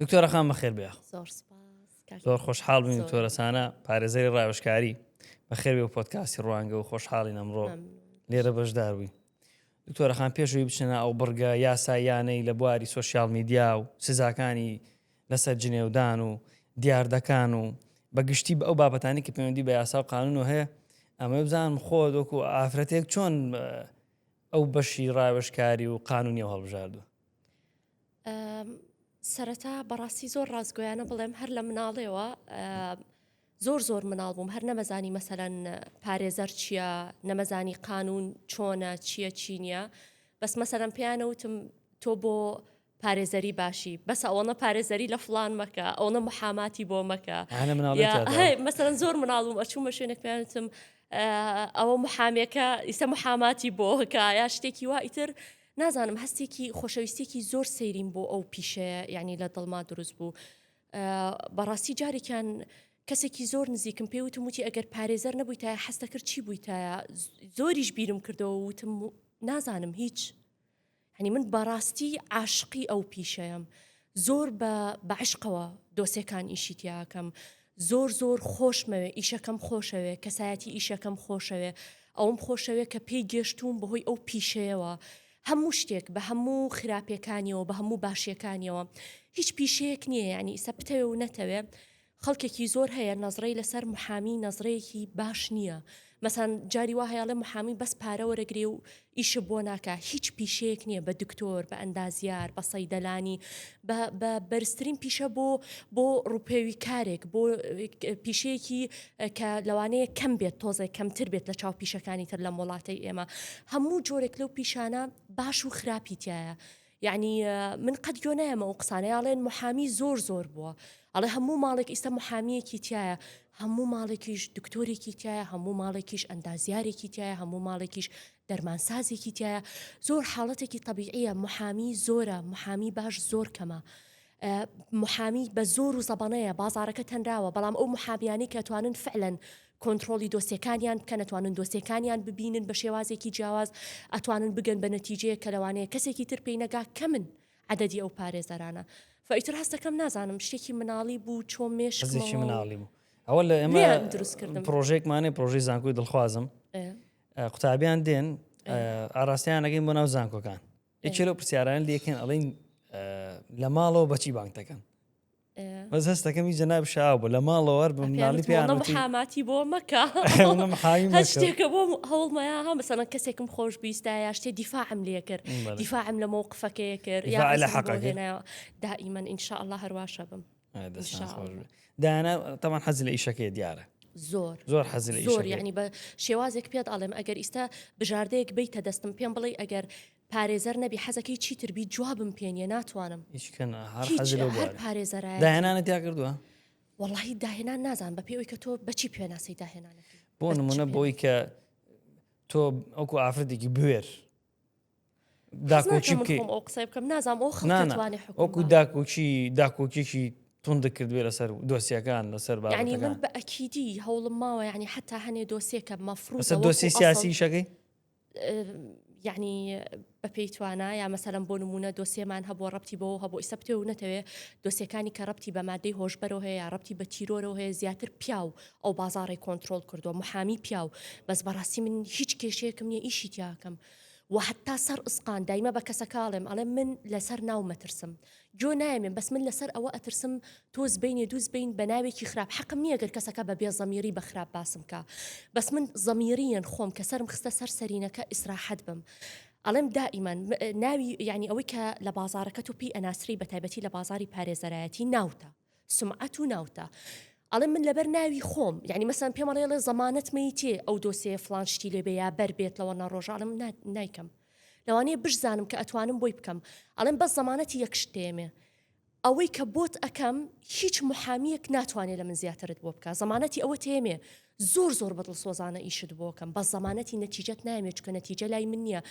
دکتۆرە خان بەخێر بێ زۆر سپاس زۆر خۆشحاڵ بین زۆر. تۆرەسانە پارێزەری ڕاوشکاری بەخێر بێ و پۆتکاسی ڕوانگە و خۆشحاڵین ئەمڕۆ ممنون. لێرە بەشدار بووین دکتۆرەخان پێشوی بچنە ئەو بڕگە یاسایانەی لە بواری سوسیال میدیا و سزاکانی لەسەر جنێودان و دیاردەکان و بە گشتی بە ئەو بابەتانی کە پەیوەندی بە یاسا و قانون و هەیە ئەمە بزانم خۆ دۆکو ئافرەتێک چۆن ئە، ئەو بەشی ڕاوێژکاری و قانونی و هەڵبژاردووە سەرەتا بەڕاستی زۆر ڕاستگۆیانە بڵێم هەر لە مناڵێەوە زۆر زۆر مناڵ بووم هەر نەمەزانی مەسەەن پارێزەر چییە نەمەزانی قانون چۆنە چییە چی نییە بەس مەسەەن پێیانەوتم تۆ بۆ پارێزەری باشی بەس ئەوەنە پارێزەری لە فلان مەکە ئەوەنە محاماتی بۆ مەکە مەسەن زۆر مناڵم ئەچوومە شوێنێک پێیانتم ئەوە محامەکە ئیسە محاماتی بۆکە یا شتێکی وا ئیتر نازانم هەستێکی خۆشەویستێکی زۆر سەیریم بۆ ئەو پیشەیە یعنی لە دڵما دروست بوو بەڕاستی جارێکیان کەسێکی زۆر نزیکم پێ وتم وتی ئەگەر پارێزەر نەبووی تا حەستە کرد چی بووی تایە زۆریش بیرم کردەوە وتم نازانم هیچ هەنی من بەڕاستی عاشقی ئەو پیشەیەم زۆر بە بە عشقەوە دۆسێکان ئیشی تیاکەم زۆر زۆر خۆشمەوێ ئیشەکەم خۆشەوێ کەسایەتی ئیشەکەم خۆشەوێ ئەوم خۆشەوێ کە پێی گەشتوم بەهۆی ئەو پیشەیەوە هەموو شتێک بە هەموو خراپەکانیەوە بە هەموو باشیەکانیەوە هیچ پیشەیەک نییە ینی ئیسە بتەوێ و نەتەوێ خەڵکێکی زۆر هەیە نەزرەی لەسەر محامی نەزرەیەکی باش نییە مەسان جاری وا هەیەڵێ محامی بەس پارە وەرەگرێ و ئیشە بۆ ناکە هیچ پیشەیەک نییە بە دکتۆر بە ئەندازیار بە سەیدەلانی بە بەرزترین پیشە بۆ بۆ ڕوپێوی کارێک بۆ پیشەیەکی کە لەوانەیە کەم بێت تۆزێک کەمتر بێت لە چاو پیشەکانی تر لەم وڵاتی ئێمە هەموو جۆرێک لەو پیشانە باش و خراپی تایە یەعنی من قەت گوێ نایەمە ئەو قسانەی ئاڵێن محامی زۆر زۆر بووە ئەڵێ هەموو ماڵێک ئیستا محامیەکی تایە هەموو ماڵێکیش دکتۆرێکی تایە هەموو ماڵێکیش ئەندازیارێکی تایە هەموو ماڵێکیش دەرمانسازێکی تایە زۆر حاڵەتێکی طبیعە محامی زۆرە محامی باش زۆر کەمە محامی بە زۆر و زەبەنەیە بازارەکە تەنراوە بەڵام ئەو محامیانی کە توانن فعلەن کۆنتترۆلی دۆسیەکانیان بکەن توانن دۆسیەکانیان ببینن بە شێوازێکی جیاواز ئەتوانن بگەن بە نەتیجەیە کە لەوانەیە کەسێکی تر پێی نەگا کە من عددی ئەو پارێزەرانە فئیتر هەستەکەم نازانم شتێکی مناڵی بوو چۆ مێشکی مناڵی بوو ئەوە لە ئێمە دروستکردن پرۆژێکمانێ پرۆژی زانکۆی دڵخوازم قوتابیان دێن ئاراستیانەکەین بۆ ناو زانکۆکان یەکێ لەو پرسیاران لەکەن ئەڵین لە ماڵەوە بەچی بانک دەکەن بەس هەستەکەم هی جەناب شاو بوو لە ماڵەوە بە مناڵی پێیانمەحاماتی بۆ مەکە شتێکە بۆ هەوڵمەیە ها مەسەن کەسێکم خۆش بیستایە شتێ دیفاعم لێ کرد دیفاعم لە مەوقفەکەی کرد یا لە حەقەکەنایەوە دائیمەن ئینشاء الله هەرواشە بم دانا تەمان حەز لە ئیشەکەی دیارە زۆر زۆر حەز زۆر یعنی بە شێوازێک پێت ئاڵێم ئەگەر ئیستا بژاردەیەک بیتە دەستم پێم بڵێ ئەگەر پارێزەر نەبی حەزەکەی چی تربی جوابم پێنیە ناتوانم پارێزەرە داهێنانە تیا کردووە وەڵی داهێنان نازان بە پێوەی کە تۆ بەچی پێناسی داهێنانە بۆ نمونە بۆی کە تۆ ئەوکو ئافرەتێکی بوێر داکۆکی بکەیت قسە بکەم نازام ئەو خڵانێ وەکو داکۆکی داکۆکیێکی توند کردوێ لەسەر دۆسیەکان لەسەر بەنی من بە ئەکیدی هەوڵم ماوە ینی حتا هەنێ دۆسیەکە مەفرو دۆسی سیاسی شەکەی یعنی بە پێی توانە یا مەسەرم بۆ نمونە دۆسیەمان هەبوو ڕەتی بۆ هەبوو ئیسە پێ و نەتەوێ دۆسیەکانی کە ڕەتی بە مادەی هۆشبەرەوە هەیە ڕەتی بە تیرۆرەوە هەیە زیاتر پیاو ئەو بازاڕەی کۆنترۆڵ کردوە محامی پیاو بەس بەڕاستی من هیچ کێشەیەکم نیە ئیشی تیاکەم و حتا سەر ئسقان دایمە بە کەسەکەڵێم ئەڵێ من لەسەر ناو مەترسم جۆ نایمێن بەس من لەسەر ئەوە ئەترسم تۆز بینێ دووز بین بە ناوێکی خراپ حەقم نییە گەر کەسەکە بە بێ زەمیری بە خراپ باسم کا بەس من زەمیریەن خۆم کە سرم خستە سەر سەرینەکە ئیسراحەت بم ئەڵێم دائیمان ناوی یعنی ئەوەی کە لە بازارەکە تو پێی ئەناسری بە تایبەتی لە بازاری پارێزەرایەتی ناوتە سومعەت و ناوتە ئەڵێ من لەبەر ناوی خۆم یعنی مەسەن پێم ئەڵێ ئەڵێ زەمانەت مەیتێ ئەو دۆسەیە فلان شتی لێ بێ یا بەر بێت لەوە نەڕۆژانم نایکەم لەوانەیە بشزانم کە ئەتوانم بۆی بکەم ئەڵێم بەس زەمانەتی یەک شتێمێ ئەوەی کە بۆت ئەکەم هیچ محامیەک ناتوانێت لە من زیاترت بۆ بکە زەمانەتی ئەوە تێمێ زۆر زۆر بەدڵ سۆزانە ئیشت بۆکەم بە زەمانەتی نەتیجەت نامێ چکە نەتیجە لای من نییە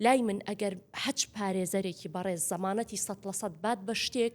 لای من ئەگەر حەج پارێزەرێکی بەڕێز زەمانەتی سە لە سەد بات بە شتێک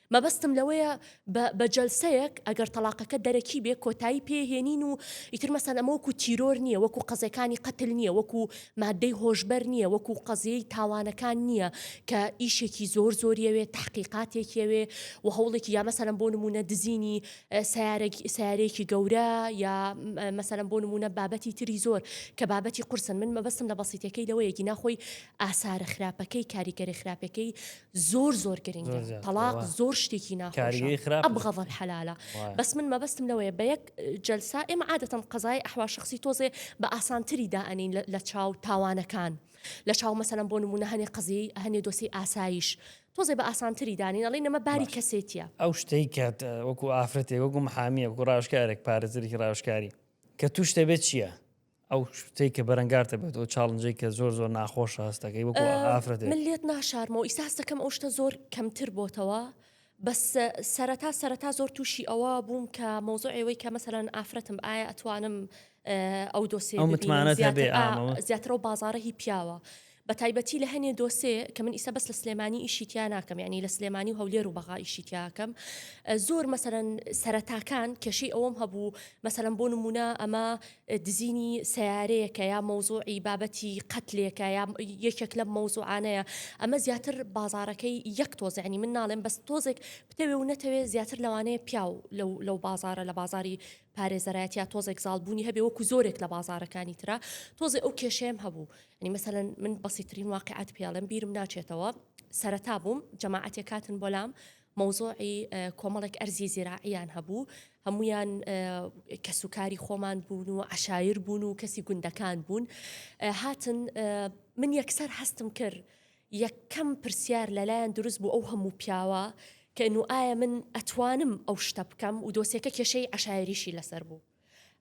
مەبەستم لەوەیە بە بە جەلسەیەک ئەگەر تەڵاقەکە دەرەکی بێ کۆتایی پێ هێنین و ئیتر مەسەن ئەمە وەکو تیرۆر نییە وەکو قەزەکانی قەتل نییە وەکو مادەی هۆشبەر نییە وەکو قەزیەی تاوانەکان نییە کە ئیشێکی زۆر زۆریەوێ تحقیقاتێکیەوێ و هەوڵێکی یا مەسەرم بۆ نمونە دزینی سیارێکی سیارێکی گەورە یا مەسەرم بۆ نمونە بابەتی تری زۆر کە بابەتی قرسن من مەبەستم لە بەسیتەکەی لەوەیەکی ناخۆی ئاسارە خراپەکەی کاریگەری خراپەکەی زۆر زۆر گرنگە تەڵاق زۆر شتێکی ناخۆشە ئەبغەض الحلال بەس من مەبەستم لەوەیە بە یەک جەلسا ئێمە عادەتەن قەزای ئەحوا شخصی تۆزێ بە ئاسانتری دائەنین لە چاو تاوانەکان لە چاو مەسەلەن بۆ نمونە هەنێ قەزی هەنێ دۆسی ئاسایش تۆزێ بە ئاسانتری دانین ئەڵی نەمە باری کەسێتیە ئەو شتەی کە وەکو ئافرەتێک وەکو محامیە وەکو ڕاشکارێک پارێزەرێکی ڕاشکاری کە توشتە بێت چییە ئەو شتەی کە بەرەنگار دەبێت ئەو چاڵنجەی کە زۆر زۆر ناخۆش هەست دەکەی وەکو ئافرەت من لێت ناشارمەوە ئیساس دەکەم ئەو شتە زۆر کەمتر بۆتەوە بەس سەرەتا سەرەتا زۆر تووشی ئەوە بووم کە مۆزۆ ئێوەی کە مەسەرەن ئافرەتم ئایا ئەتوانم ئەو دۆسێ متمانە زیاترەوە بازارە هی پیاوە بەتایبەتی لە هەنێ دۆسێ کە من ئیستا بەس لە سلێمانی ئیشی تیا ناکەم یعنی لە سلێمانی و هەولێر و بەغا ئیشی تیاکەم زۆر مەسەرەن سەرەتاکان کێشەی ئەوەم هەبوو مەسەرم بۆ نمونە ئەمە دزینی سیارەیەکە یا مەوزوعی بابەتی قەتلێکە یا یەکێک لەم مەوزوعانەیە ئەمە زیاتر بازارەکەی یەک تۆزیعنی من ناڵێم بەس تۆزێک بتەوێ و نەتەوێ زیاتر لەوانەیە پیاو لەو بازارە لە بازاری پارێزەرایەت یا تۆزێک زاڵ بوونی هەبێ وەکو زۆرێک لە بازارەکانی ترا تۆزێ ئەو کێشەیەم هەبوو ینی مەسەەن من بەسیترین واقعات پێڵم بیرم ناچێتەوە سەرەتا بووم جەماعەتێک کاتن بۆلام مەوزۆعی کۆمەڵێک ئەرزی زیراعیان هەبوو هەمویان کەسوکاری خۆمان بوون و عشایر بوون و کەسی گوندەکان بوون هاتن من یەکسەر هەستم کرد یەکەم پرسیار لەلایان دروست بوو ئەو هەموو پیاوە کەن و ئایا من ئەتوانم ئەو شتە بکەم و دۆسێکە کێشەی عشایریشی لەسەر بوو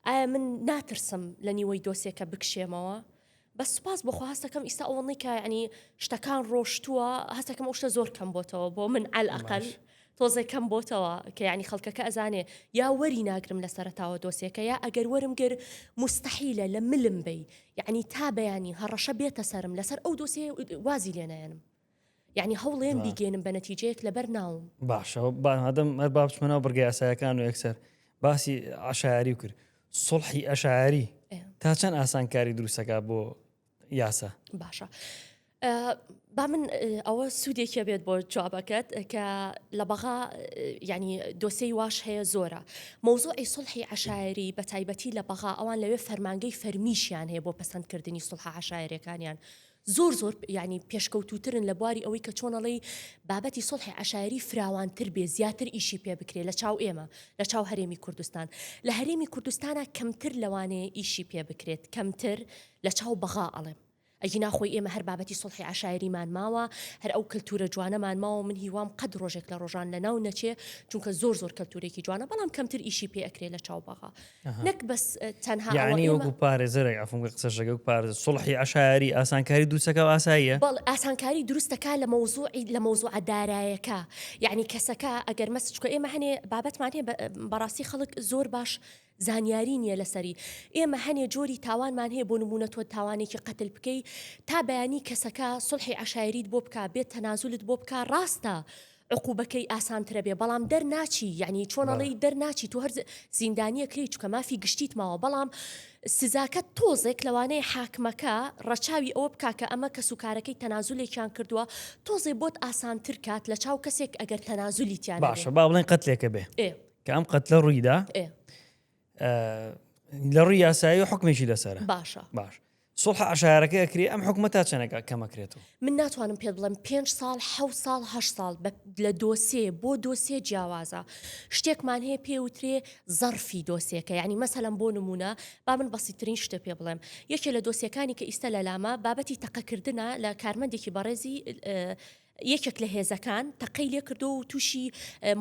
ئایا من ناترسم لە نیوەی دۆسێکە بکشێمەوە بەس سوپاس بۆخوا هەستەکەم ئیستا ئەوەڵنی کە ینی شتەکان ڕۆشتووە هەستەکەم ئەو شتە زۆر کەم بۆتەوە بۆ من ئەلئقل تۆزێ کەم بۆتەوە کە یانی خەڵکەکە ئەزانێ یا وەری ناگرم لە سەرتاوە دۆسیەکە یا ئەگەر وەرم گر مستحیلە لە ملم بی یعنی تا بەیانی هەڕەشە بێتە سرم لەسەر ئەو دۆسیە وازی لێنایەنم یعنی هەوڵێن بیگەێنم بە نەتیجەیەک لەبەر ناوم باشە بادەم هەر بابچمەەوە بڕگە یاسایەکان و یەکسەر باسی عشاری و کرد سڵحی ئەشاری تا چەند ئاسانکاری دروستەکە بۆ یاسا باشە با من ئەوە سوودێکە بێت بۆ جوابەکەت کە لە بەغا ینی دۆسەی واش هەیە زۆرە مۆزۆی سڵحی عشاعری بە تایبەتی لە بەغا ئەوان لەوێ فەرمانگەی فەرمیشیان هەیە بۆ پسندکردنی سڵح عشاعرەکانیان زۆر زۆر ینی پێشکەوتوترن لە بواری ئەوەی کە چۆنەڵی بابەتی سڵحی عشاعری فراوانتر بێ زیاتر ئیشی پێ بکرێت لە چاو ئێمە لە چاو هەرێمی کوردستان لە هەرێمی کوردستانە کەمتر لەوانەیە ئیشی پێ بکرێت کەمتر لە چاو بەغا ئەڵێم. ئەگینا خۆی ئێمە هەر بابەتی سوڵحی عەشایەریمان ماوە، هەر ئەو کەلتوورە جوانەمان ماوە و من هیوام قەت ڕۆژێک لە ڕۆژان لە ناو نەچێ، چونکە زۆر زۆر کەلتوورێکی جوانە، بەڵام کەمتر ئیشی پێ ئەکرێ لە چاو بەغا. نەک بەس تەنها ئەوە یەعنی ئێمە وەکوو پارێزەرێک عەفوم کە قسەشەکە وەکوو پارێزەر سوڵحی عەشایەری ئاسانکاری دروستەکا و ئاساییە؟ بەڵێ ئاسانکاری دروستەکا لە مەوزووعی لە مەوزووعە دارایەکە. یەعنی کەسەکە ئەگەر مەس چکە ئێمە هەنێ بابەتمان هەیە بە بەڕاستی خەڵک زۆر باش زانیاری نیە لەسەری. ئێمە هەنێ جۆری تاوانمان هەیە بۆ نمونە تۆ تاوانێکی قەتل بکەی تا بەیانی کەسەکە سوڵحی عەشایەریت بۆ بکا بێت تەنازولت بۆ بکا ڕاستە عقوبەکەی ئاسانترە بێ بەڵام دەرناچی یعنی چۆن ئەڵێی دەرناچی تو هەر زیندانیەکری چکە مافی گشتیت ماوە بەڵام سزاکە تۆزێک لەوانەیە حاکمەکە ڕەچاوی ئەوە بکا کە ئەمە کەس و کارەکەی تەنازولێکیان کردووە تۆزێ بۆت ئاسانتر کات لە چاو کەسێک ئەگەر تەنازولی تیان باشە با بڵێن قەتلێکە بێ کە ئەم قەتلە ڕوویدا لە ڕووی یاسایی و حکمێکی لەسەر باشە باش سڵح عشارەکە ئەکری ئەم حکومە تا چەنەکە کەمەکرێتەوە من ناتوانم پێ بڵم پێ ساڵ ح ساڵ ه ساڵ لە دۆسێ بۆ دۆسێ جیاوازە شتێکمان هەیە پێ وترێ زەرفی دۆسێکە ینی مەسەلم بۆ نمونە با من بەسیترین شتە پێ بڵێم یەکێ لە دۆسیەکانی کە ئیستا لە لامە بابەتی تەقەکردە لە کارمەندێکی بەڕێزی یەکێک لە هێزەکان تەقەی لێ کردووە و تووشی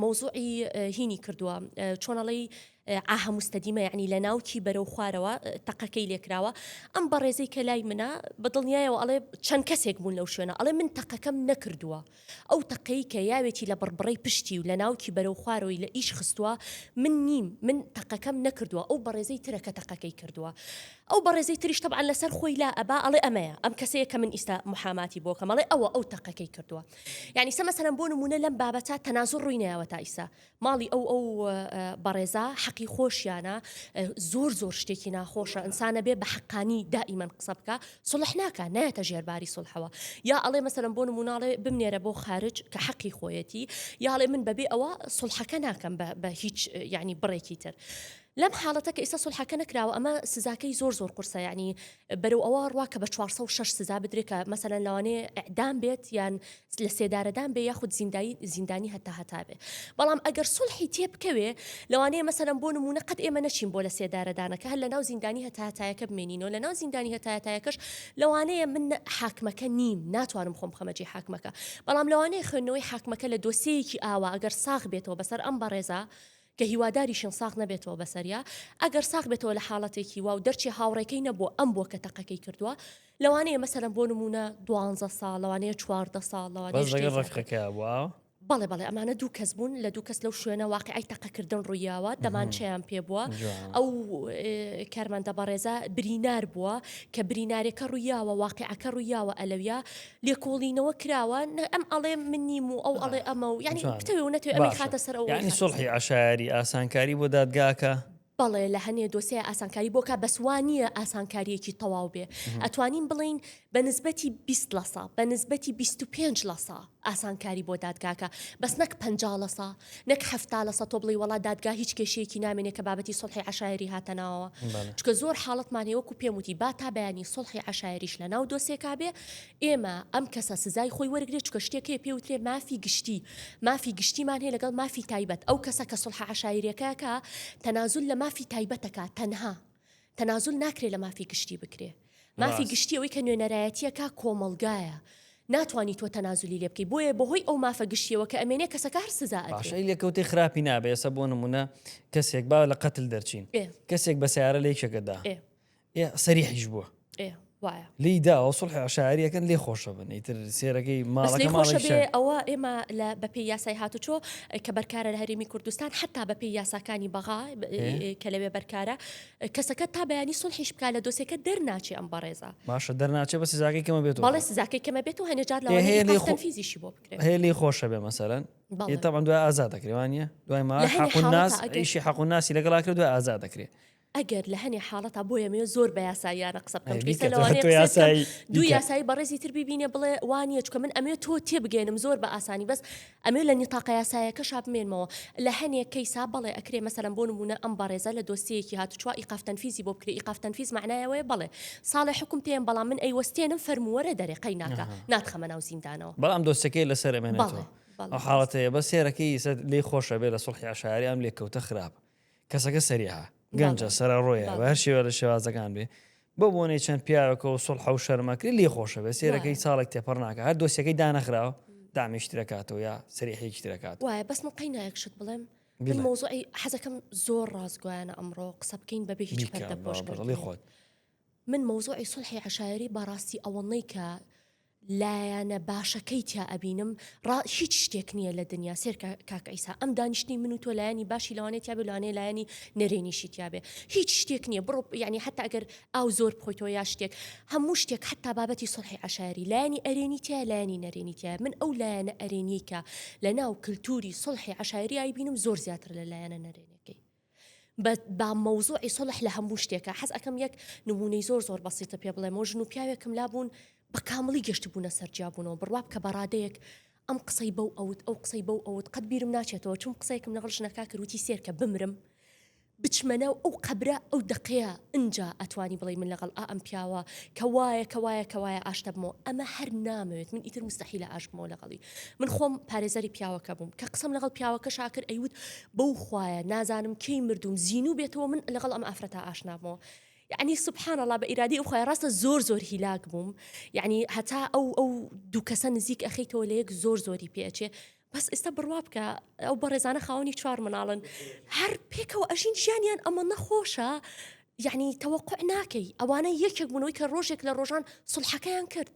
مەوزوعی هینی کردووە چۆنەڵی ئاهە مستەدیمە یعنی لە ناوکی بەرەو خوارەوە تەقەکەی لێکراوە ئەم بەڕێزەی کە لای منە بە دڵنیایەوە ئەڵێ چەند کەسێک بوون لەو شوێنە ئەڵێ من تەقەکەم نەکردووە ئەو تەقەی کە یاوێتی لە بڕبڕی پشتی و لە ناوکی بەرەو خوارەوەی لە ئیش خستووە من نیم من تەقەکەم نەکردووە ئەو بەڕێزەی ترەکە تەقەکەی کردووە ئەو بەڕێزەی تریش تەبعەن لەسەر خۆی لا ئەبا ئەڵێ ئەمەیە ئەم کەسەیە کە من ئیستا موحاماتی بۆکەم ئەڵێ ئەوە ئەو تەقەکەی کردوە یانی سە مەسەلەن بۆ نمونە لەم بابەتە تەنازوع ڕوی نەیاوە تا ئیسا ماڵی ئەو ئەو بەڕێزا حەقی خۆشیانە زۆر زۆر شتێکی ناخۆشە ئینسانە بێ بە حەقانی دائیمەن قسە بکە سڵح ناکە نایەتە ژێرباری سڵحەوە یا ئەڵێ مەسەلەن بۆ نموناڵێ بمنێرە بۆ خارج کە حەقی خۆیەتی یاڵێ من بەبێ ئەوە سڵحەکە ناکەم بە هیچ یعنی بڕێکی تر لەم حاڵەتە کە ئیستا سولحەکە نەکراوە ئەمە سزاکەی زۆر زۆر قورسە یعنی بەرەو ئەوە ڕوا کە بە 406 سزا بدرێ کە مەسەلەن لەوانێ ئەعدام بێت یان لە سێدارەدان بێ یاخود زیندایی زیندانی هەتا هەتا بێ بەڵام ئەگەر سولحی تێ بکەوێ لەوانەیە مەسەلەن بۆ نمونە قەت ئێمە نەچین بۆ لە سێدارەدانەکە هەر لە ناو زیندانی هەتاتایەکە بمێنینەوە لە ناو زیندانی هەتاتایەکەش لەوانەیە من حاکمەکە نیم ناتوانم خۆم خەمەجی حاکمەکە بەڵام لەوانەیە خوێندنەوەی حاکمەکە لە دۆسەیەکی ئاوا ئەگەر ساغ بێتەوە بەسەر ئەم بەڕێزە کە هیواداریشین ساغ نەبێتەوە بەسەریا، ئەگەر ساغ بێتەوە لە حاڵەتێکی وا و دەرچێ هاوڕێکەی نەبووە ئەم بووە کە تەقەکەی کردووە، لەوانەیە مەسەلەن بۆ نموونە دوانزە ساڵ، لەوانەیە چواردە ساڵ، لەوانەیە شتێ زیاتر. بەس لەگەڵ ڕەفیقەکەیا بووە ئاوا؟ بەڵێ بەڵێ ئەمانە دوو کەس بوون لە دوو کەس لەو شوێنە واقیعی تەقەکردن ڕوویاوە دەمانچەیان پێ بووە جوان. ئەو ئێ، کارمەندە بەڕێزە برینار بووە کە برینارێکە ڕوویاوە واقیعەکە ڕوویاوە ئەلەویا لێکۆڵینەوە کراوە نە ئەم ئەڵێ من نیم و ئەو ئەڵێ ئەمە و یعنی بتەوێ و نەتوێ ئەمە خاتە سەر ئەو ینی سڵحی عشایری ئاسانکاری بۆ دادگاکە بەڵێ لە هەنێ دۆسێ ئاسانکاری بۆکە بەسوانیە ئاسانکاریەکی تەواو بێ ئەتوانین بڵین بە نسبەتی 20 لەسا بە نسبەتی 25 لەسا ئاسانکاری بۆ دادگاکە بەس نەک پ لەسا نەک حەفتا لەسەد تۆ بڵێی وەڵا دادگا هیچ کێشەیەکی نامێنێ کە بابەتی سوڵحی عەشایەری هاتە ناوەوە چکە زۆر حاڵەتمان هەیە وەکو پێم وتی با تا بەیانی سوڵحی عەشایەریش لە ناو دۆسێکا بێ ئێمە ئەم کەسە سزای خۆی وەرگێ چکە شتێکێ پێوترێ مافی گشتی مافی گشتیمان هەیە لەگەڵ مافی تایبەت ئەو کەسە کە سوڵح عەشایرەکەکە تەنازول لە مافی تایبەتەکە تەنها تەنازول ناکرێ لە مافی گشتی بکرێ مافی گشتی ئەوەی کە نوێنەرایەتیەکە کۆمەلگایە ناتوانانی تۆ تەنازلی لێ بکەی بۆیە بەهۆی ئەو مافە گشتیەوە کە ئەمێنێ کەسەکە هەر سزا ئەدرێ لە کەوتەی خراپی نابێ ئێستا بۆ نمونە کەسێک با لە قەتل دەرچین کەسێک بە سیارە لە یەکێکەدا سەریحیش بووە ئێ وایە لێی داوە سڵحی عشاعری ئەکەن لێ خۆشە بن ئیتر سێرەکەی بەس ماڵەکە لێی خۆشە ماڵی بێ شار ئەوە ئێمە لە بەپێی یاسای هاتوچۆ کە بەرکارە لە هەرێمی کوردستان حتا بەپێی یاساکانی بەغا ئێ. کە لەوێ بەرکارە کەسەکە تا بەیانی سڵحیش بکا لە دۆسێکە دەرناچێ ئەم بەڕێزە باشە دەرناچێ بە سزاکەی کەمە بێتەوە بەڵێ سزاکەی کەمە بێت و هەنێجار لە هەیە لێی خۆ- فیزیشی بۆ بکرێت هەیە لێی خۆشە بێ مەسەرەن بەڵێ. ئێ تەبان دوای ئازاد دەکرێوانە دوای ما لە هەنێ حەق و حاڵەتە ناس ئەگەر- ئیشی حەق و ناسی لەگەڵا کرد دوای ئازاد دەکرێ ئەگەر لە هەنێ حاڵەتا بۆیە مێ زۆر بە یاساییانە قسە بکەم ئەی پێویستە کە لەوانەیە تۆ قسە بکەم یاسایی دوو دیکە. یاسایی بەڕێزی تر ببینێ بڵێ وانە چکە من ئەمێ تۆ تێبگەێنم زۆر بە ئاسانی بەس ئەمێ لە نیتاقە یاسایەکە شابمێنمەوە لە هەنێ کەیسا بەڵێ ئەکرێ مەسەلەن بۆ نمونە ئەم بەڕێزە لە دۆسیەیەکی هاتوچوە ئیقاف تەنفیزی بۆ بکرێ ئیقاف تەنفیز معنایەوەی بەڵێ ساڵێ حکم پێم بەڵام من ئەیوەستێنم فەرمووەرە دەرێ قەیناکە ئەها. ناتخەمە ناو زیندانەوە بەڵام دۆستەکەی لەسەر بەڵێ ئەمێنێتەوە بەڵێ ئەو حاڵەتەیە بەس سێرەکەی ئیسە لێی خۆشە بێ لە سوڵحی عەشایەری ئەم لێکەوتە خراپە کەسەکە سەریعە، گەنجە، سەرەڕۆیە، بە هەر شێوە لە شێوازەکان بێ، بۆ بۆنەی چەند پیاوێکە و سوڵحە و شەرمەکری لێ خۆشە بێ، سێرەکەی چاڵێک تێپەڕ ناکە، هەر دۆسیەکەی دانەخراوە دامیشت دەکاتەوە یا سەریحێکی تر دەکات. وایە بەس من قەینا یەک شت بڵێم بڵێ. مەوزوعی حەزەکەم زۆر ڕاستگویانە ئەمڕۆ قسە بکەین بەبێ هیچ بیکە، پەردە پۆش بە بەڵی کردنی. خۆت. من مەوزوعی سوڵحی عەشایەری بەڕاستی ئەوەنەی کە لایەنە باشەکەی تیا ئەبینم ڕا هیچ شتێک نییە لە دنیا سێر کاک ئەیسا ئەم دانیشتنی من و تۆ لایەنی باشی لەوانێ تیا بێ لەوانێ لایەنی نەرێنیشی تیا بێ هیچ شتێک نییە بڕۆ یعنی حتا ئەگەر ئاو زۆر بخۆیتەوە یا شتێک هەموو شتێک حتا بابەتی سڵحی عشاری لایەنی ئەرێنی تیا لایەنی نەرێنی تیا من ئەو لایەنە ئەرێنیکە لە ناو کللتوری سڵحی عشاریایی بینم زۆر زیاتر لە لایەنە نەرێنەکەی بە با مەوزوعی سوڵح لە هەموو شتێکە حەز ئەکەم یەک نمونەی زۆر زۆر بەسیتە پێ بڵێمەوە ژن و پیاوێکم لابوون بە کامڵی گەشتبوونە سەرجیابوونەوە بڕواب کە بەڕادەیەک ئەم قسەی بەو ئەوت ئەو قسەی بەو ئەوت قەت بیرم ناچێتەوە چون قسەیەکم لەگەڵ ژنەکە کروتی سێرکە بمرم بچمەنە و ئەو قەبرە ئەو دقەیە ئنجا ئەتوانی بڵێ من لەگەڵ ئا ئەم پیاوە کە وایە کە وایە کە وایە ئاشتەبمەوە ئەمە هەر نامەوێت من ئیتر مستحیلە ئاشبمەوە لەگەڵی من خۆم پارێزەری پیاوەکە بووم کە قسەم لەگەڵ پیاوەکەشا کرد ئەیوت بەو خوایە نازانم کەی مردوم زین و بێتەوە من لەگەڵ ئەم ئافرەتا ئاشنابەوە یعنی سبحان الله بە ئیرادی ئەوخوای ڕاستە زۆر زۆر هیلاک بووم یعنی هەتا ئەو ئەو دوو کەسە نزیک ئەخیتەوە لە یەک زۆر زۆری پێچێ بەس ئێستا بڕوا بکە ئەو بەڕێزانە خاوەنی چوار مناڵن هەر پێکەوە ئەژین ژیانیان ئەمە نەخۆشە یعنی تەوەقع ناکەی ئەوانە یەکێک بوونەوەی کە ڕۆژێک لە ڕۆژان سڵحەکەیان کرد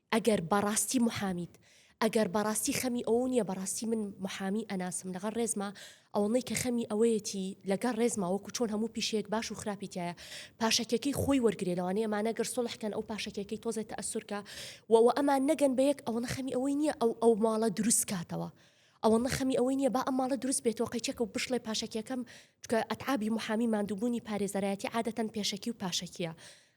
ئەگەر بەڕاستی محامیت ئەگەر بەڕاستی خەمی ئەوە نیە بەڕاستی من محامی ئەناسم لەغەر ڕێزما ئەوەڵی کە خەمی ئەوەیەتی لەگەر ڕێزما وەکو چۆن هەموو پیشەیەک باش و خراپی تایە پاشەکەکەی خۆی وەرگێ لەوانەیە ئەمانە گەر سڵحکەن ئەو پاشەکەکەی تۆزێت تەسورکە وەوە ئەمان نەگەن بە یەک ئەوەنە خەمی ئەوەی نییە ئەو ئەو ماڵە دروست کاتەوە ئەوە نەخەمی ئەوەی نییە با ئەم ماڵە دروست بێتەوە قەیچەکە و بشڵێ پاشەکیەکەم چکە ئەتعابی محامی مادووبوونی پارێزەرایەتی عادەتەن پێشەکی و پاشەکیە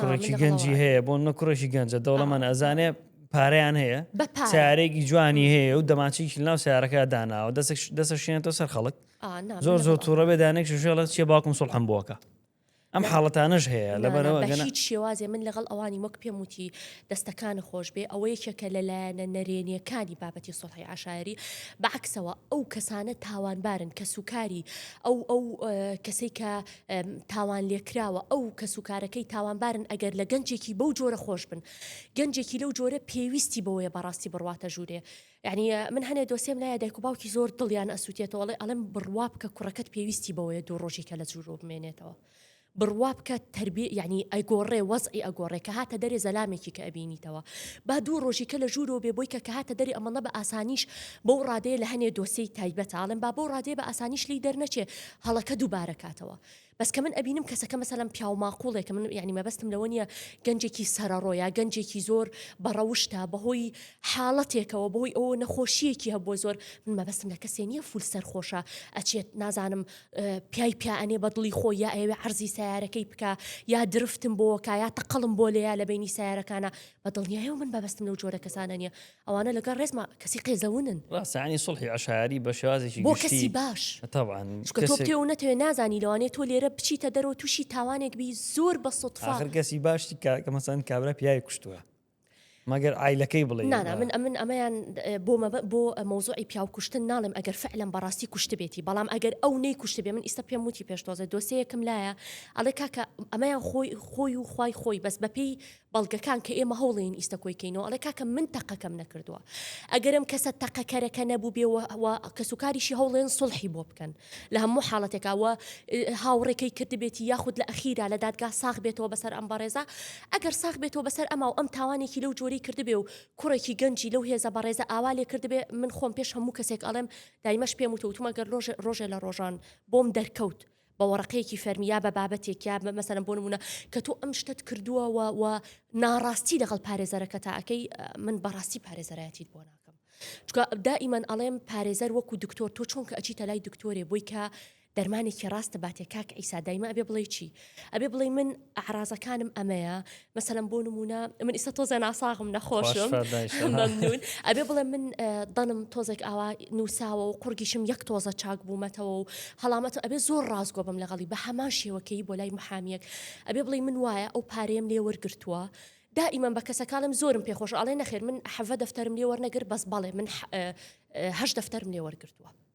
کوڕێکی گەنجی هەیە بۆ نە کوڕێکی گەنجە دەوڵەمان ئەزانێ پارەیان هەیە سارێکی جوانی هەیە و دەماچێکی ناو سارەکە داناوە دەسێک دەسە شێنێتەوە سەر خەڵک زۆر زۆر تووڕە بێ دانێک شوشێڵە چێ باوکم سڵ هەم بووەکە ئەم حاڵەتانەش هەیە لەبەرەوە هیچ شێوازێ من لەگەڵ ئەوانی وەک پێم وتی دەستەکان خۆش بێ ئەوە یەکێکە لەلایەنە نەرێنیەکانی بابەتی سڵحی عشاعری بەعکسەوە ئەو کەسانە تاوانبارن کە سوکاری ئەو ئەو کەسێک کە تاوانلێکراوە ئەو کەس و کارەکەی تاوانبارن ئەگەر لە گەنجێکی بەو جۆرە خۆش بن گەنجێکی لەو جۆرە پێویستی بەوەیە بەڕاستی بڕواتە ژوورێ یعنی من هەنێ دۆسێم لایە دایک و باوکی زۆر دڵیان ئەسووتێتەوە ئەڵێ ئەڵێم بڕوا بکە کوڕەکەت پێویستی بەوەیە دوو ڕۆژی کە لە جوورۆ بمێنێتەوە بڕوا بکە تربی یعنی ئەگۆڕێ وەزعی ئەگۆڕێ کە هاتە دەرێ زەلامێکی کە ئەبینیتەوە با دوو ڕۆژی کە لە ژوورۆ بێ بۆی کە کە هاتە دەری ئەمەڵە بە ئاسانیش بەو ڕادەیە لە هەنێ دۆسیی تایبەتاڵم با بۆ ڕادێ بە ئاسانیش لی دەرنەچێ هەڵەکە دوبارە کاتەوە بەس کە من ئەبینم کەسەکە مەسەلەن پیاو ماقوڵێکە من یعنی مەبەستم لەوە نیە گەنجێکی سەرەڕۆ یا گەنجێکی زۆر بەڕەوشتە بەهۆی حاڵەتێکەوە بەهۆی ئەوە نەخۆشیەکی هەبووە زۆر من مەبەستم لە کەسێ نیە فول سەرخۆشە ئەچێت نازانم پیای پیانێ بە دڵی خۆ یا ئەوێ عەرزی سیارەکەی بکە یا درفتم بۆکە یا تەقەڵم بۆ لێیا لە بینی سیارەکانە بە دڵنیایەوە من بەبستم لەو جۆرە کەسانە نیە ئەوانە لەگەڵ ڕێزما کەسی قێزەونن. ڕاستە یانی سوڵحی عەشایەری بە شێوازێکی گشتی بۆ کەسی باش تەبعەن چونکە تۆ بتەوێ و نەتەوێ نازانی لەوانەیە تۆ لێرە بچیتە دەرەوە و تووشی تاوانێک بی زۆر بە سوتفا ئاخر کەسی باش چی کاکە مەسەن کابرا پیاوی کوشتووە مەگەر عایلەکەی بڵێ نا نا من ئەمن ئەمەیان بۆ مەبە بۆ مەوزوعی پیاو کوشتن ناڵێم ئەگەر فعلەن بەڕاستی کوشتبێتی بەڵام ئەگەر ئەو نەی کوشتبێ من ئیستا پێم وتی پێشتۆزە دۆسەیەکم لایە ئەڵێ کاکە ئەمەیان خۆی خۆی و خی خۆی بەس بەپێی بەڵگەکان کە ئێمە هەوڵێین ئیستە کۆی کەینەوە ئەڵێ کاکە من تەقەکەم نەکردووە ئەگەر ئەم کەسە تەقەکەرەکە نەبووبێ و کەسوکاریشی هەوڵێن سڵحی بۆ بکەن لە هەموو حاڵەتێکەوە هاوڕێکەی کردبێتی یاخود لە ئەخیرا لە دادگا ساخ بێتەوە بەسەر ئەم بەڕێزە ئەگەر ساخ بێتەوە بەسەر ئەما و ئەم تاوانێکی لەو جۆری کردبێ و کوڕێکی گەنجی لەو هێزە بەڕێزە ئاوا لێ کردبێ من خۆم پێش هەموو کەسێک ئەڵێم دایمەش پێم وتە وتومە گەر ڕۆژێ لە ڕۆژان بۆم دەرکەوت بە وەڕەقەیەکی فەرمی یا بە بابەتێک یا مەسەرم بۆ نمونە کە تۆ ئەم شتت کردووە و ناڕاستی لەگەڵ پارێزەرەکە تا ئەەکەی من بەڕاستی پارێزەرایەتیت بۆ ناکە چکە دائیمان ئەڵێم پارێزەر وەکو دکتۆر تۆ چۆن کە ئەچیتە لای دکتۆرێ بۆی کە دەرمانێکی ڕاستە باتێ کاک ئیسا دایمە ئەبێ بڵێ چی ئەبێ بڵێ من ئەعرازەکانم ئەمەیە مەسەلەن بۆ نمونە من ئیستا تۆزە ناساغم نەخۆشم ممنون ئەبێ بڵێ من دەنم تۆزێک ئاوا نووساوە و قڕگیشم یەک تۆزە چاک بوومەتەوە و هەڵامەتە ئەبێ زۆر ڕاستگۆ بم لەگەڵی بە هەمان شێوەکەی بۆ لای محامیەک ئەبێ بڵێ من وایە ئەو پارەیەم لێ وەرگتووە دائیمەن بە کەسەکانم زۆرم پێخۆش ئاڵێ نەخێر من حەڤە دەفتەرم لێ وەرنەگر بەس بەڵێ من هەش دەفتەرم لێ وەرگتووە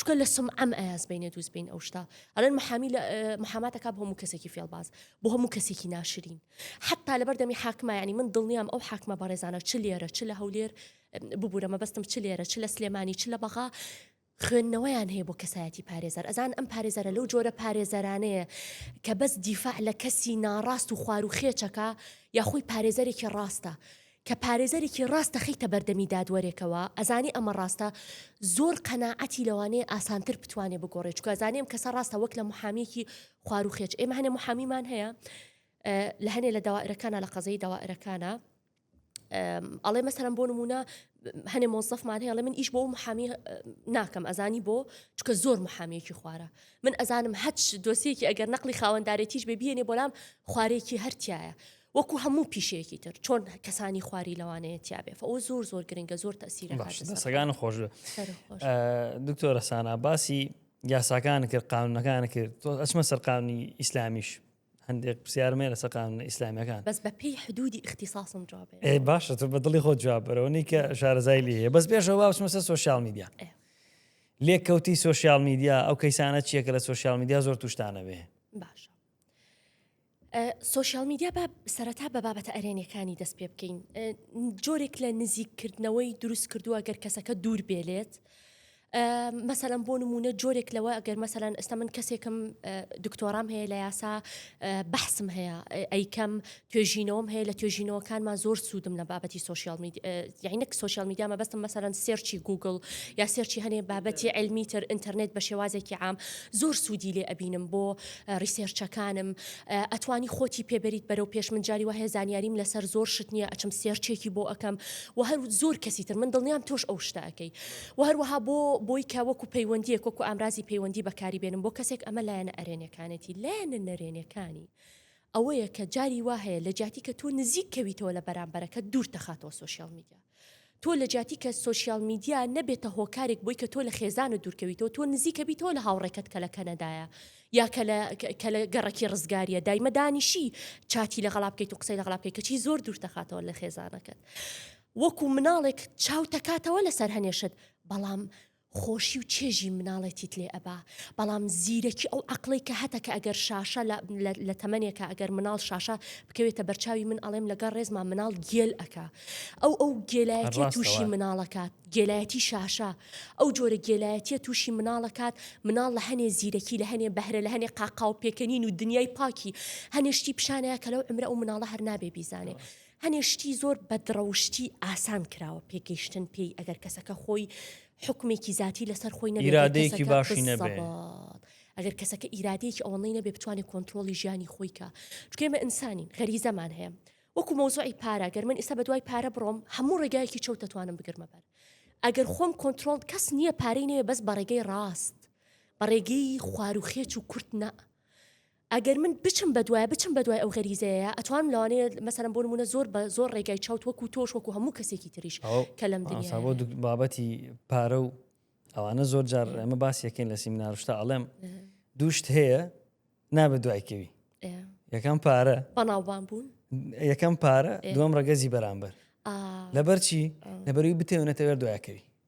چونکە لە سمعەم ئەیاز بینێ دووست بین ئەو شتا ئەلەن محامی لە محاماتەکە بۆ هەموو کەسێکی فێڵباز بۆ هەموو کەسێکی ناشرین حتا لە بەردەمی حاکمایانی من دڵنیام ئەو حاکمە بەڕێزانە چ لێرە چ لە هەولێر ببوورە مەبەستم چ لێرە چ لە سلێمانی چ لە بەغا خوێندنەوەیان هەیە بۆ کەسایەتی پارێزەر ئەزان ئەم پارێزەرە لەو جۆرە پارێزەرانەیە کە بەس دیفاع لە کەسی ناڕاست و خوار و خێچەکە یاخۆی پارێزەرێکی ڕاستە کە پارێزەرێکی ڕاست دەخەیتە بەردەمی دادوەرێکەوە ئەزانێ ئەمە ڕاستە زۆر قەناعەتی لەوانەیە ئاسانتر بتوانێ بگۆڕێ چونکە ئەزانێ ئەم کەسە ڕاستە وەک لە محامیەکی خوار و خێچ ئێمە هەنێ محامیمان هەیە لە هەنێ لە داوائرەکانە لە قەزەی داوائرەکانە ئەڵێ مەسەرم بۆ نمونە هەنێ مۆزەفمان هەیە من ئیش بۆ محامی ناکەم ئەزانی بۆ چکە زۆر محامیەکی خوارە من ئەزانم هەچ دۆسیەکی ئەگەر نەقلی خاوەندارێتیش بێ بێنێ بۆلام خوارێکی هەرتیایە وەکو هەموو پیشەیەکی تر چۆن کەسانی خواری لەوانەیە تیاابێ ئەو زۆر زۆر گرنگە زۆر تەسیرە سەگان خۆش دکتۆرە سانا باسی یاساکان کرد قانونەکان کرد تۆ ئەچمە سەرقامی ئیسلامیش هەندێک پرسیارمێ لە سەقام ئیسلامیەکان بەس بە پێی حدودی اختصاصم جواب باشە تۆ بە دڵی خۆ جوابەرەوەنی کە شارەزای لێ هەیە بەس پێشەوە باشمە سەر سوۆسیال میدیا لێک کەوتی سوۆسیال میدیا ئەو کەیسانە چیەکە لە سوۆسیال میدیا زۆر توشتانەوێ باشە سۆشیال میدیا با سەرەتا بە بابەتە ئەرێنیەکانی دەست پێ بکەین جۆرێک لە نزیککردنەوەی دروست کردووە گەر کەسەکە دوور بێلێت مەسەلەن بۆ نمونە جۆرێک لەوە ئەگەر مەسەلەن ئێستا من کەسێکم دکتۆرام هەیە لە یاسا بەحسم هەیە ئەیکەم توێژینەوەم هەیە لە توێژینەوەکانمان زۆر سوودم لە بابەتی سوسیال یعنەک سوسیال میدیامە بەستم مەسەرەن سێرچی گوگل یا سێرچی هەنێ بابەتی علمیتر ئینتەرنێت بە شێوازێکی عام زۆر سوودی لێ ئەبینم بۆ ریسێرچەکانم ئەتوانی خۆتی پێ بەریت بەرەو پێش من جاری وایە زانیاریم لەسەر زۆر شت نییە ئەچم سێرچێکی بۆ ئەەکەم و هەر زۆر کەسی تر من دڵنیام تۆش ئەو شتەکەی و هەروەها بۆ بۆی کە وەکو پەیوەندیەک وەکو ئامرازی پەیوەندی بەکاری بێنم بۆ کەسێک ئەمە لایەنە ئەرێنەکانێتی لایەنە نەرێنەکانی ئەوەیە کە جاری وا هەیە لە جیاتی کە تۆ نزیک کەویتەوە لە بەرامبەرەکە دوور تەخاتەوە سوۆشیال میدیا تۆ لە جیاتی کە سۆشیال میدیا نەبێتە هۆکارێک بۆی کە تۆ لە خێزانت دوورکەویتەوە تۆ نزیکە بیتەوە لە هاوڕێکەت کە لە کەنەدایە یا کە لە کە لە گەڕەکی ڕزگاریە دایمە دانیشی چاتی لەگەڵا بکەیت و قسەی لەگەڵا بکەیت کەچی زۆر دوورتەخاتەوە لە خێزانەکەت وەکو مناڵێک چاو تەکاتەوە لەسەر هەنێشت بەڵام خۆشی و چێژی مناڵێتیت لێ ئەبا بەڵام زیرەکی ئەو عەقڵەی کە هەتە کە ئەگەر شاشە لە لە لە تەمەنێکە ئەگەر مناڵ شاشە بکەوێتە بەرچاوی من ئەڵێم لەگەڵ ڕێزما مناڵ گێل ئەکا ئەو ئەو گێلایەتی هەر تووشی ڕاستەوە. مناڵەکات گێلایەتی شاشە ئەو جۆرە گێلایەتیە تووشی مناڵەکات مناڵ لە هەنێ زیرەکی لە هەنێ بەهرە لە هەنێ قاقاو پێکەنین و دنیای پاکی هەنێ شتی پیشانەیە کە لەو عەمرە ئەو مناڵە هەر نابێ بیزانێ هەنێ شتی زۆر بەدڕەوشتی ئاسان کراوە پێگەیشتن پێی ئەگەر کەسەکە خۆی حکمێکی زیاتی لەسەر خۆی نەیرادەیەکی باشی نەبێ. ئەگەر کەسەکە ئیرادەیەکی ئەوەی نەبێ بتوانێت کۆنتترۆلی ژیانی خۆیکە چکێمە ئینسانین غەری زەمان هەیە وەکو مۆزوعی پارە گەر من ئستا بە دوای پارە بڕۆم هەموو ڕێگایەکی چەوت دەتوانم بگرمە بەر ئەگەر خۆم کۆنتترۆل کەس نییە پارەی نەیە بەس بە ڕێگەی ڕاست بە ڕێگەی خواروخێچ و کورت نە ئەگەر من بچم بەدوای بچم بەدوای ئەو غەریزەیە ئەتوانم لەوانەیە مەسەلەن بۆ نمونە زۆر بە زۆر ڕێگای چەوت وەکو تۆش وەکو هەموو کەسێکی تریش کە لەم دنیا بۆ بابەتی پارە و ئەوانە زۆر جار ئەمە باسیەکەین لە سیمناروشتا ئەڵێم دووشت هەیە نابە دوایکەوی یەکەم پارە بەناوبان بوون یەکەم پارە دوم ڕگەزی بەرامبەر لەبەرچی لەبەروی بتێونەتەوێت دوایکەوی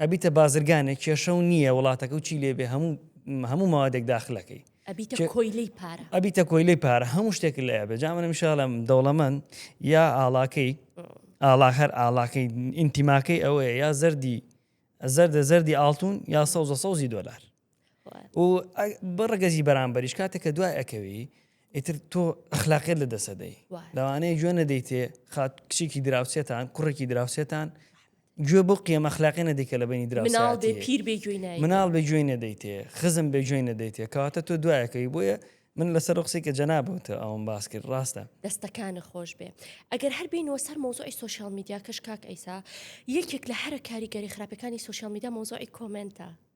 ئەبیتە بازرگانێک کێشەو نییە وڵاتەکەو چی لێبێ هەموو هەموو مەوادێک داخلەکەی ئەبیتە کۆیلەی پارە ئەبیتە کۆیلەی پارە هەموو شتێک لە ئەبێ جا منم شاڵم دەوڵەمەند یا ئاڵاکەی ئاڵا هەر ئاڵاکەی ئینتیماکەی ئەوەیە یا زەردی زەردە زەردی ئاڵتون یا سەوزە سەوزی دۆلار و بە ڕگەزی بەرامبەریش کاتێک کە دوای ئەکەوی ئیتر تۆ ئەخلاقێت لە دەسەدەی لەوانەیە گوێ نەدەیتێ خات کچێکی دراوسێتان کوڕێکی دراوسێتان گوێ بۆ قیەمە خلاقی نەدیکە لە بینی دراسناڵ بێ پیر بێ گوێی مناڵ بێ گوێی نەدەیتێ خزم بێ گوێی نەدەیتێ کەواتە تۆ دوایەکەی بۆیە من لەسەر قسەی کە جەنابوتە ئەوم باس کرد ڕاستە دەستەکانە خۆش بێ ئەگەر هەر بینەوە سەر مۆزۆی سوسیال میدیا کەش کاک ئەیسا یەکێک لە هەرە کاریگەری خراپەکانی سوسیال میدا مۆزۆی کۆمنتە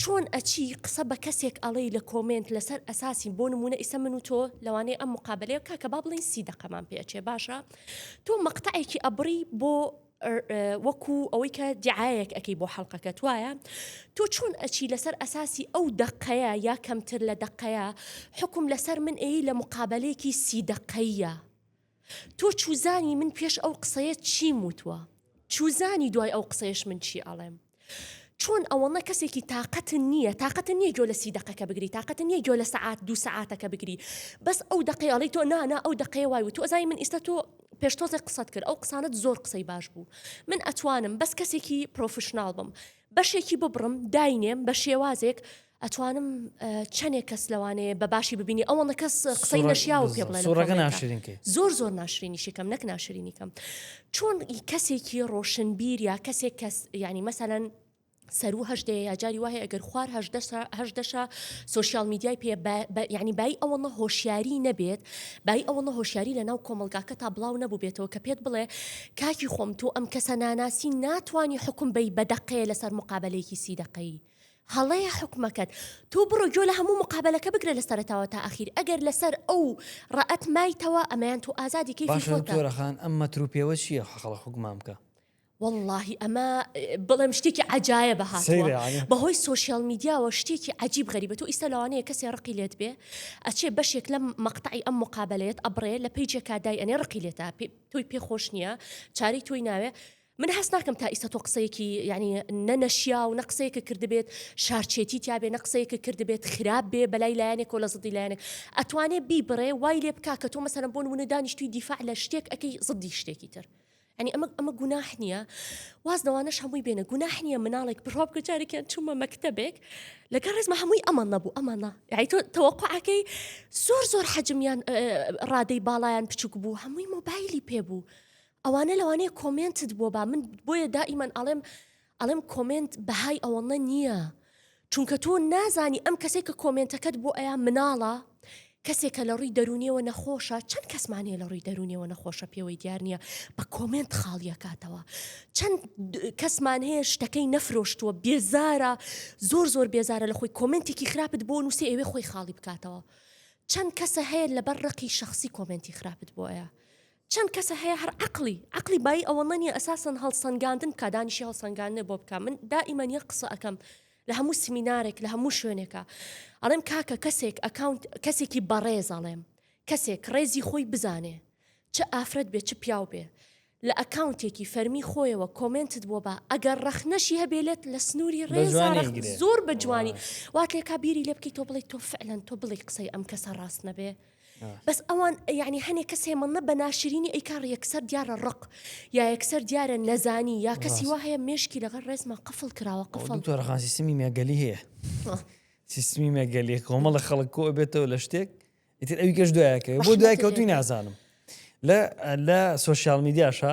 چۆن ئەچی قسە بە کەسێک ئەڵێی لە کۆمێنت لەسەر ئەساسی بۆ نمونە ئیسە من و تۆ لەوانەیە ئەم مقابەلەیە کاکە با بڵێین سی دەقەمان پێ ئەچێ باشە تۆ مەقتەعێکی ئەبڕی بۆ وەکو ئەوەی کە دیعاەک ئەەکەی بۆ حەڵلقەکەت وایە تۆ چۆن ئەچی لەسەر ئەساسی ئەو دەقەیە یا کەمتر لە دەقەیە حکم لەسەر من ئەی لە مقابلێکی سی دەقەیە تۆ چوزانی من پێش ئەو قسەیە چیم وتوە چوزانی دوای ئەو قسەیەش من چی ئەڵێم چۆن ئەوەڵە کەسێکی تااقەتن نییە تااقەتە نییە گۆ لە سی دقەکە بگری تااقەتە نییە گۆ لە سعات دو سعاتەکە بگری بەس ئەو دقەیەڵی تۆ نانا ئەو دقەیە وای و تۆزای من ئیستا تۆ پێشتۆزە قسەت کرد ئەو قسانت زۆر قسەی باش بوو من ئەتوانم بەس کەسێکی پرۆفشنناڵ بم بەشێکی ببڕم داینێم بە شێوازێک ئەتوانم چەنێک کەس لەوانەیە بە باشی ببینی ئەوەڵە کەس قسەی نەشیاو پێ بڵێ سوڕەکە ناشرینکەی زۆر زۆر ناشرینیشیکەم نەک ناشرینیکەم چۆن کەسێکی ڕۆشنبیر یا کەسێک کەس ینی مەسەەن سەرو هەشتێ یاجاری وایە ئەگەر خوار هەشدەشە سوسیال میدیای پێ ینی بای ئەوەڵە هۆشیاری نەبێت بای ئەوەڵە هۆشیاری لە ناو کۆمەلگاکە تا بڵاو نەبوو بێتەوە کە پێت بڵێ کاکی خۆم تۆ ئەم کەسە ناناسی ناتانی حکم بی بەدەقەیە لەسەر مقابلەیەکی سی دەقەی هەڵەیە حوکمەکەت تۆ بڕۆ گۆ لە هەموو مقابلەکە بگرە لە سەرتاوە تا ئاخیر ئەگەر لەسەر ئەو ڕەت مایتەوە ئەمەیان تۆ ئازادی کەی خۆتەرەخان ئەم مەترو پێوە چییە حەقڵە حکومان بکە واللهی ئەمە بڵێم شتێکی عجاایە بە هاتووە بەهۆی سوۆسیال میدیاوە شتێکی عجیب غەریبە تۆ ئیستا لەوانەیە کەسێ ڕقی لێت بێ ئەچێ بەشێک لەم مەقتعی ئەم مقابلێت ئەبرێ لە پیجێکا دای ئەنێ ڕقی لێتا تۆی پێخۆش نییە چاری تۆی ناوێ من هەست ناکەم تا ئیستا تۆ قسەیەکی یانی نە نەشیاو نە قسەیەکە کردبێت شارچێتی تیابێ نە قسەیەکە کردبێت خراپ بێ بەلای لایەنێک و لە زدی لایەنێک ئەتوانێ بیبڕێ وای لێ بکا کە تۆ مەسەرم بۆن ونە دانیشتوی دیفاع لە شتێک ئەەکەی زدی شتێکی تر ئەنی ئەمە ئەمە گوناح نییە واز لەوانەش هەمووی بێنە گوناح نییە مناڵێک بڕۆب کە جارێکیان چوومە مەکتتەبێک لەگەڵ ڕێزمە هەمووی ئەمان نەبوو ئەمانە یتۆ تەوەقعەکەی زۆر زۆر حەجمیان ڕادەی باڵیان بچوک بوو هەمووی مۆبایلی پێ بوو ئەوانە لەوانەیە کۆمێنتت بۆ با من بۆیە دائیمەن ئەڵێم ئەڵێم کۆمێنت بەهای ئەوەڵە نییە چونکە تۆ نازانی ئەم کەسێک کە کۆمێنتەکەت بۆ ئەیا مناڵە کەسێکە لە ڕووی دەرونیەوە نەخۆشە چەند کەسمانەیە لە ڕووی دەرونیەوە نەخۆشە پێوەی دیار نییە بە کۆمنت خاڵیەکاتەوە چەند کەسمان هەیە شتەکەی نەفرۆشتووە بێزارە زۆر زۆر بێزارە لە خۆی کۆمنتێکی خراپت بۆ نووسێ ئەوێ خۆی خاڵی بکاتەوە چەند کەسە هەیە لەبەر ڕقی شخصی کۆمنتی خراپت بۆیە چەند کەسە هەیە هەر عەقڵی عەقڵی بایی ئەوەندە نیە ئەساسەن هەڵسەنگاندن بکا دانیشی هەڵسەنگاندنێ بۆ بکە من دائیمەن یەک قسە ئەەکەم لە هەموو سمینارێک لە هەموو شوێنێکە ئەڵێم کاکە کەسێک ئەکاونت کەسێکی بەڕێز ئەڵێم کەسێک ڕێزی خۆی بزانێ چ ئافرەت بێ چ پیاو بێ لە ئەکاونتێکی فەرمی خۆیەوە کۆمنتت بۆ بە ئەگەر ڕەخنەشی هەبێلێت لە سنووری ڕێزارە زۆر بە جوانی وات لێکا بیری لێ بکەیت تۆ بڵی تۆ فعلەن تۆ بڵی قسەی ئەم کەسە ڕاست نەبێ بەس ئەوان یعنی هەنێک کەس هێمەڵە بە ناشرینی ئەیکار یەکسەر دیارە ڕق یا یەکسەر دیارە نەزانی یا کەسی وا هەیە مێشکی لەگەڵ ڕێزمان قفل کراوە قفڵ تۆرەخان سیستمی مێگەلی هەیە سیستمی مێگەلی کۆمەڵە خەڵک کۆ بێتەوە لە شتێک ئیتر ئەوی گەش دوایەکە بۆ دوای کەوتوی نازانم لە لە سوسیال میدیاشە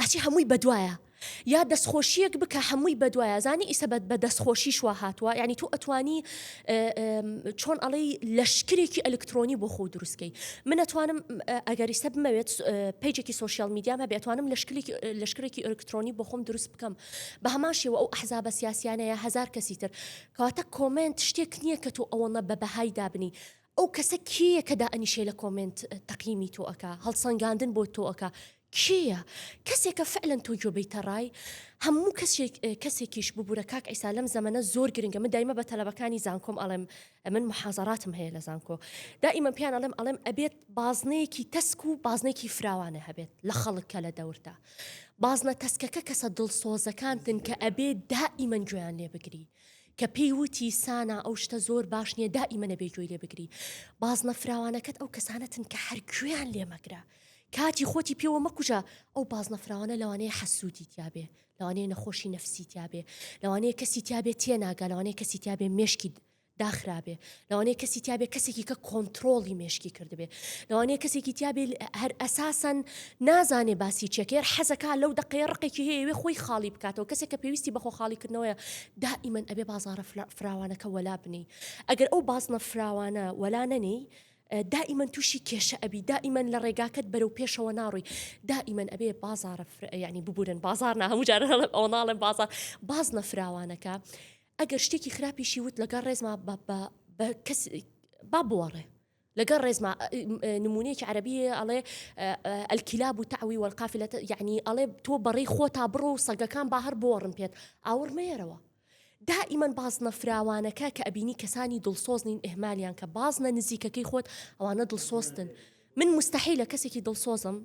ئەچی هەمووی بەدوایە یا دەستخۆشیەک بکە هەمووی بەدوایە زانی ئیسەبەت بە دەستخۆشی شوا هاتووە ینی تۆ ئەتوانی چۆن ئەڵەی لەشکرێکی ئەلکترۆنی بۆ خۆ دروستکەی من ئەتوانم ئەگەری سە بمەوێت پێجێکی سوسیال میدیام هەبێ ئەتوانم لەشکلێکی لەشکرێکی ئەلکترۆنی بۆ خۆم دروست بکەم بە هەمان شێوە ئەو ئەحزابە سیاسیانەیە هزار کەسی تر کەواتە کۆمنت شتێک نییە کە تۆ ئەوەنە بە بەهای دابنی ئەو کەسە کێیە کە دائەنیشێ لە کۆمێنت تەقیمی تۆ ئەکا هەڵسەنگاندن بۆ تۆ ئەکا کێیە کەسێکە فعلەن تۆ گوێ بیتە ڕای هەموو کەسێک کەسێکیش ببوورە کاک ئیسا لەم زەمەنە زۆر گرنگە من دایمە بە تەلەبەکانی زانکۆم ئەڵێم من محازەراتم هەیە لە زانکۆ دائیمە پیان ئەڵێم ئەڵێم ئەبێت بازنەیەکی تەسک و بازنێکی فراوانە هەبێت لە خەڵک کە لە دەورتا بازنە تەسکەکە کەسە دڵسۆزەکانتن کە ئەبێ دائیمەن گوێیان لێ بگری کە پێی وتی سانا ئەو شتە زۆر باش نیە دائیمە نەبێ گوێی لێ بگری بازنە فراوانەکەت ئەو کەسانەتن کە هەر گوێیان لێ مەگرە کاتی خۆتی پێوە مەکوژە ئەو بازنە فراوانە لەوانەیە حەسوودی تیاابێ لەوانەیە نەخۆشی نەفسی تیاابێ لەوانەیە کەسی تیاابێ تێناگا لەوانەیە کەسی تیاابێ مێشکی داخرابێ لەوانەیە کەسی تیابێ کەسێکی کە کۆنتترۆڵی مێشکی کردبێ لەوانەیە کەسێکی تیابێ هەر ئەساسەن نازانێ باسی چێکێر حەزەکە لەو دقەیە ڕقێکی هەیەوێ خۆی خاڵی بکاتەوە کەسێک کە پێویستی بەخۆ خاڵیکردنەوەە دائیمەن ئەبێ بازارە فراوانەکە وەلا بنی ئەگەر ئەو بازنە فراوانە وەلا نەنی دائیمەن تووشی کێشە ئەبی دائیمەن لە ڕێگاکەت بەرەو پێشەوە ناڕووی دائیمەن ئەبێ بازارە ینی ببورن بازار نە هەموو جارە ئەو ناڵێن بازار باز نەفراوانەکە ئەگەر شتێکی خراپیشی وت لەگەڵ ڕێزما با بوەڕێ لەگەڵ ڕێزما نمونەیەکی عربیە ئەڵێ ئەلکیلا بوو تاوی وەرقافی لە یعنی ئەڵێ تۆ بەڕێ خۆ تا بڕۆ و سەگەکان با هەر بۆڕن پێت ئاوڕ مێرەوە دائیمەن بازنە فراوانەکە کە ئەبینی کەسانی دڵسۆز نین ئهمالیان کە بازنە نزیکەکەی خۆت ئەوانە دڵسۆستن من مستحی لە کەسێکی دڵسۆزم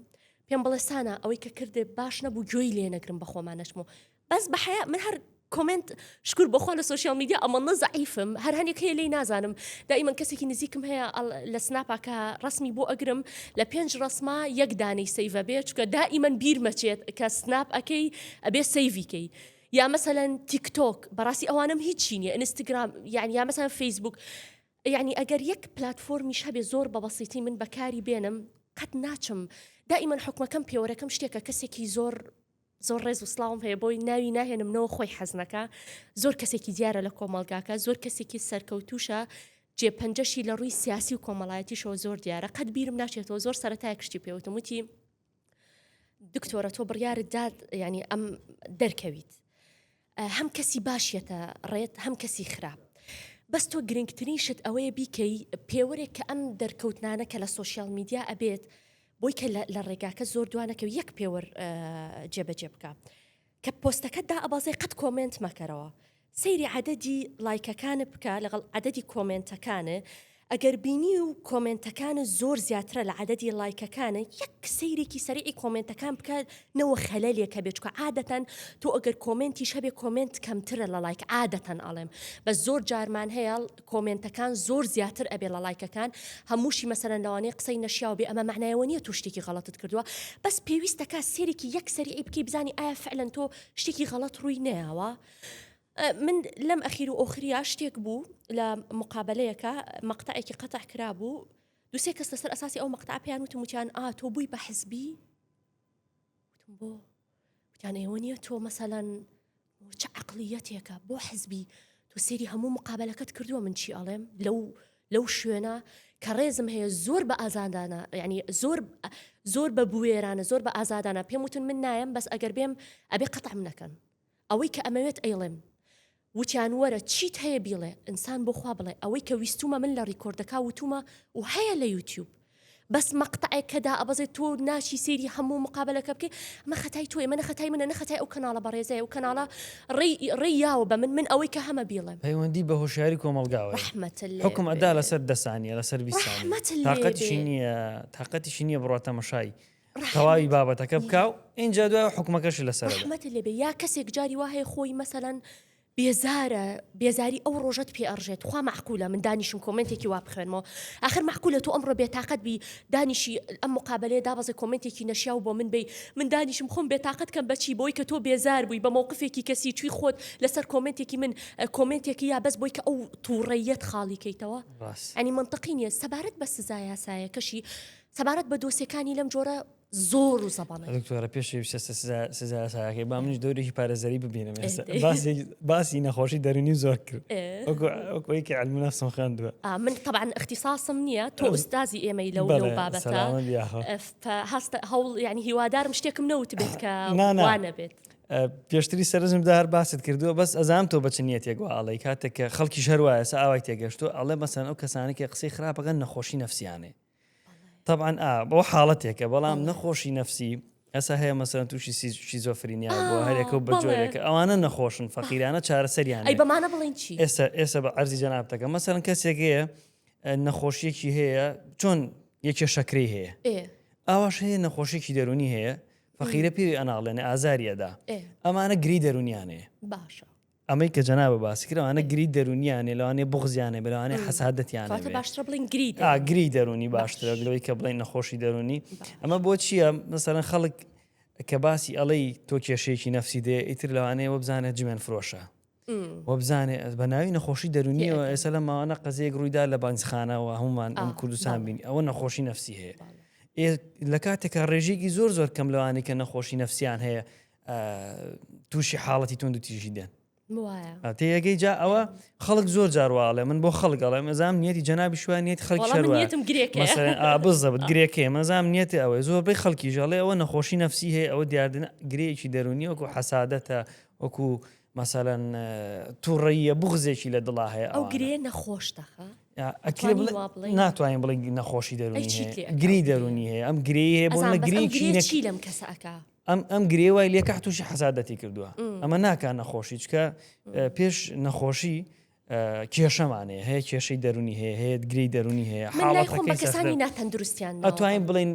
پێم بڵێ سانا ئەوەی کە کردێ باش نەبوو گوێی لێ نەگرم بە خۆمانەشم و بەس بە حەیا من هەر کۆمنت شکر بۆخوا لە سوسیال میدیا ئەمەڵە زعیفم هەر هەنێک هەیە لی نازانم دایمەن کەسێکی نزیکم هەیە لە سناپاکە ڕسمی بۆ ئەگرم لە پێنج ڕسما یەک دانی سەیڤە بێ چکە دائیمەن بیرمەچێت کە سناپ ئەەکەی ئەبێ سەیڤیکەی یا مەسەەن تیکتۆک بەڕاستی ئەوانم هیچی نیە ئینستاگرام یان یا مەسەن فەیسبوک یعنی ئەگەر یەک پلتفۆرمیش هەبێ زۆر بە بەسیتی من بەکاری بێنم قەت ناچم دائیمەن حکومەکەم پێوەەکەم شتێکە کەسێکی زۆر زۆر ڕێز و سڵاوم هەیە بۆی ناوی ناهێنم نەوە خۆی حەزنەکە زۆر کەسێکی دیارە لە کۆمەلگاکە زۆر کەسێکی سەرکەوتوشە جێ پەنجەشی لە ڕووی سیاسی و کۆمەڵایەتیشەوە زۆر دیارە قەت بیرم ناچێتەوە زۆر سەرەتای کشتی پێوتم وتی دکتۆرە تۆ بڕیارت داد ینی ئەم دەرکەویت هەم کەسی باش یەتە ڕێت هەم کەسی خراپ بەس تۆ گرنگترین شت ئەوەیە بیکەی پێوەرێک کە ئەم دەرکەوتنانە کە لە سوۆسیال میدیا ئەبێت بۆی کە لە ڕێگاکە زۆر دوانەکە یەک پێوەر جێبەجێ بکە کە پۆستەکە دا ئەبازێ قەت کۆمنت مەکەرەوە سەیری عەدەدی لایکەکانە بکە لەگەڵ عەدەدی کۆمنتەکانە ئەگەر بینیو کۆمێنتەکانت زۆر زیاترە لە عەدەدی ڵایکەکانە یەک سەیرێکی سەریعی کۆمێنتەکان بکە نەوە خەلەلێک هەبێ چونکە عادەتەن تۆ ئەگەر کۆمێنتیش هەبێ کۆمێنت کەمترە لە ڵایک عادەتەن ئەڵێم بەس زۆر جارمان هەیە کۆمێنتەکان زۆر زیاتر ئەبێ لە ڵایکەکان هەمووشی مەسەلەن لەوانەیە قسەی نەشیاو بێ ئەمە مەعنای ئەوە نیە تۆ شتێکی غەڵەتت کردووە بەس پێویستەکا سەیرێکی یەک سەریعی بکەی بزانی ئایا فعلەن تۆ شتێکی غەڵەت ڕووی نەیاوە من لەم ئەخیر و ئۆخریا شتێک بوو لە مقابلەیەکە مەقتەعێکی قەتع کرابوو دوسێ کەس لەسەر ئەساسی ئەو مەقتا پێیان وتم وتیان ئا تۆ بووی بە حزبی بۆ وتیان ئێوە نیە تۆ مەسەلەن چ عقلیەتێکە بۆ حزبی تۆ سێری هەموو مقابلەکەت کردووە من چی ئەڵێم لەو لەو شوێنە کە ڕێزم هەیە زۆر بە ئازادانە ینی زۆر زۆر بە بوێرانە زۆر بە ئازادانە پێم وتن من نایم بەس ئەگەر بێم ئەبێ قەتعم نەکەن ئەوەی کە ئەمەوێت ئەیڵێم وتیان وەرە چیت هەیە بیڵێ ئینسان بۆ خوا بڵێ ئەوەی کە ویستومە من لە ڕیکۆردەکا وتومە و هەیە لە یوتیوب بەس مەقتەعێک کە دائەبەزێت تۆ ناچی سەیری هەموو مقابلەکە بکەی ئەمە خەتای تۆیە منە خەتای منە نە خەتای ئەو کەناڵە بەڕێزەیە و کەناڵە ڕێی ڕێی یاوە بە من من ئەوەی کە هەمە بیڵێم. پەیوەندی بە هۆشیاری کۆمەڵگاوە یە ڕەحمەتت لێ حوکم ئەدا بێ لەسەر دە سانیە لەسەر بیست سانیە ڕەحمەتت لێ تاقەتیشی بێ. نیە تاقەتیشی نیە بڕوات تەمەشای تەواوی بابەتەکە بکا و ئینجا دوای حکومەکەشی لەسەر رحمەت لێبێ یا کەسێک جاری وا هەیە خۆی مەسەلەن بێزارە بێزاری ئەو ڕۆژەت پێ ئەڕژێت خوا معقولە من دانیشم کۆمنتێکی وا بخوێنمەوە آخر معقولە تو ئەمڕۆ بێتاقەت بی دانیشی ئەم مقابلەیە دابەزە کۆمنتێکی نەشیا و بۆ من بی من دانیشم خۆم بێتاقەت کەم بەچی بۆی کە تۆ بێزار بووی بە مووقفێکی کەسی چوی خۆت لەسەر کۆمنتێکی من کۆمنتێکی یا بەس بۆی کە ئەو تووڕەیەت خاڵیکەیتەوە ئەنی منطقی نیە سەبارەت بە سزا یاسایەکەشی سەبارەت بە دۆسێکانی لەم جۆرە زۆر و زەبانە دکتۆرە پێشی بچە سزا یاساکەی با منیش دەورێکی پارێزەری ببینم باسی نەخۆشی دەرونی زۆر کرد وەکوەیەکی علمنا سۆخاندوە من طبعاان اختصاصم نییە تۆ ئوستازی ئێمەی لەو بابەتە هەست هەوڵ ینی هیوادارم شتێکم نەوت بێت کە نانەبێت. پێشتری سەرزم دار باست کردووە بەس ئەزام تۆ بەچ نیەت یەگووە ئاڵی کاتێک کە خەڵکی ژەروایە ئاوای تێگەشتو ئەڵێ مەسەن ئەو کەسانێکی قسەی خراپەکەن نەخۆشی نفسیانێ طبعاً ئا بۆ حاڵەتێکە بەڵام نەخۆشی نفسی ئەسا هەیە مەسەرەن تووشی شیزۆفرینیا بۆ هەرێکە و بەجۆرێکە ئەوانە نەخۆشن فەقیرانە چارەسەریان بەمانە بڵین چی ئێستا ئێستا بە ئەرزی جەنابتەکە مەسەرەن کەسێکەیە نەخۆشیەکی هەیە چۆن یەکێ شەکری هەیە ئاواش هەیە نەخۆشیێکی دەرونی هەیە فەقیرە پێوی ئەناڵێنە ئازاریەدا ئەمانە گری دەرونیانەیە باشە ئەمەی کە جەنابت باسی کرد ئەوانە گری دەروونییان هەیە، لەوانەیە بوغزیان هەبێت، لەوانەیە حەسادەتیان هەبێت. کەواتە باشترە بڵێین گری دەروونی. ئا گری دەروونی باشترە باشە. لەوەی کە بڵێین نەخۆشی دەروونی. باشە. ئەمە بۆ چییە؟ مەسەلەن خەڵک کە باسی ئەڵێی تۆ کێشەیەکی نەفسی دێ ئیتر لەوانەیە وەبزانێت جمێن فرۆشە. ئم. وەبزانێ ئەز بە ناوی نەخۆشی دەروونیەوە تێئەگەم. ئێستا لەم ماوانە قەزیەیەک ڕووی دا لە بەنجخانەوە هەموومان ئەم آه، کوردستان بەڵێ. بینی ئەوە نەخۆشی نەفسی هەیە. بەڵێ. ئێ لە کاتێکا ڕێژەیەکی زۆر زۆر کەم لەوانەی کە نەخۆشی نەفسیان هەیە تووشی حاڵەتی تونند و تیژی دێن تێگەی جا ئەوە خەڵک زۆر جارواڵێ من بۆ خەڵک ئەڵێ مەزام نیەتی جەنابی شووان نیت خەڵک بزەبت گرێکێ مەزام نیەتی ئەوەی زۆر بەی خەڵکی ژەڵێ ئەوە نەخۆشی نفسی هەیە ئەوە دیاردن گرێکی دەرونی وەکو حەسادەتە وەکو مەسەەن تووڕەیە بغزێکی لە دڵا هەیە ئەو گرێ نەخۆشتە ناتوانین بڵێ نەخۆشی دەرونی گری دەرونی هەیە ئەم گرێ هەیە بۆ گرێکی لەم کەسەکە ئەم ئەم گرێ وای لێ کە تووشی حەسادەتی کردووە ئەمە ناکە نەخۆشی چکە پێش نەخۆشی کێشەمانەیە هەیە کێشەی دەرونی هەیە هەیە گری دەرونی هەیە حاڵەتەکەسانی ناتەندروستیان ئەتوانین بڵین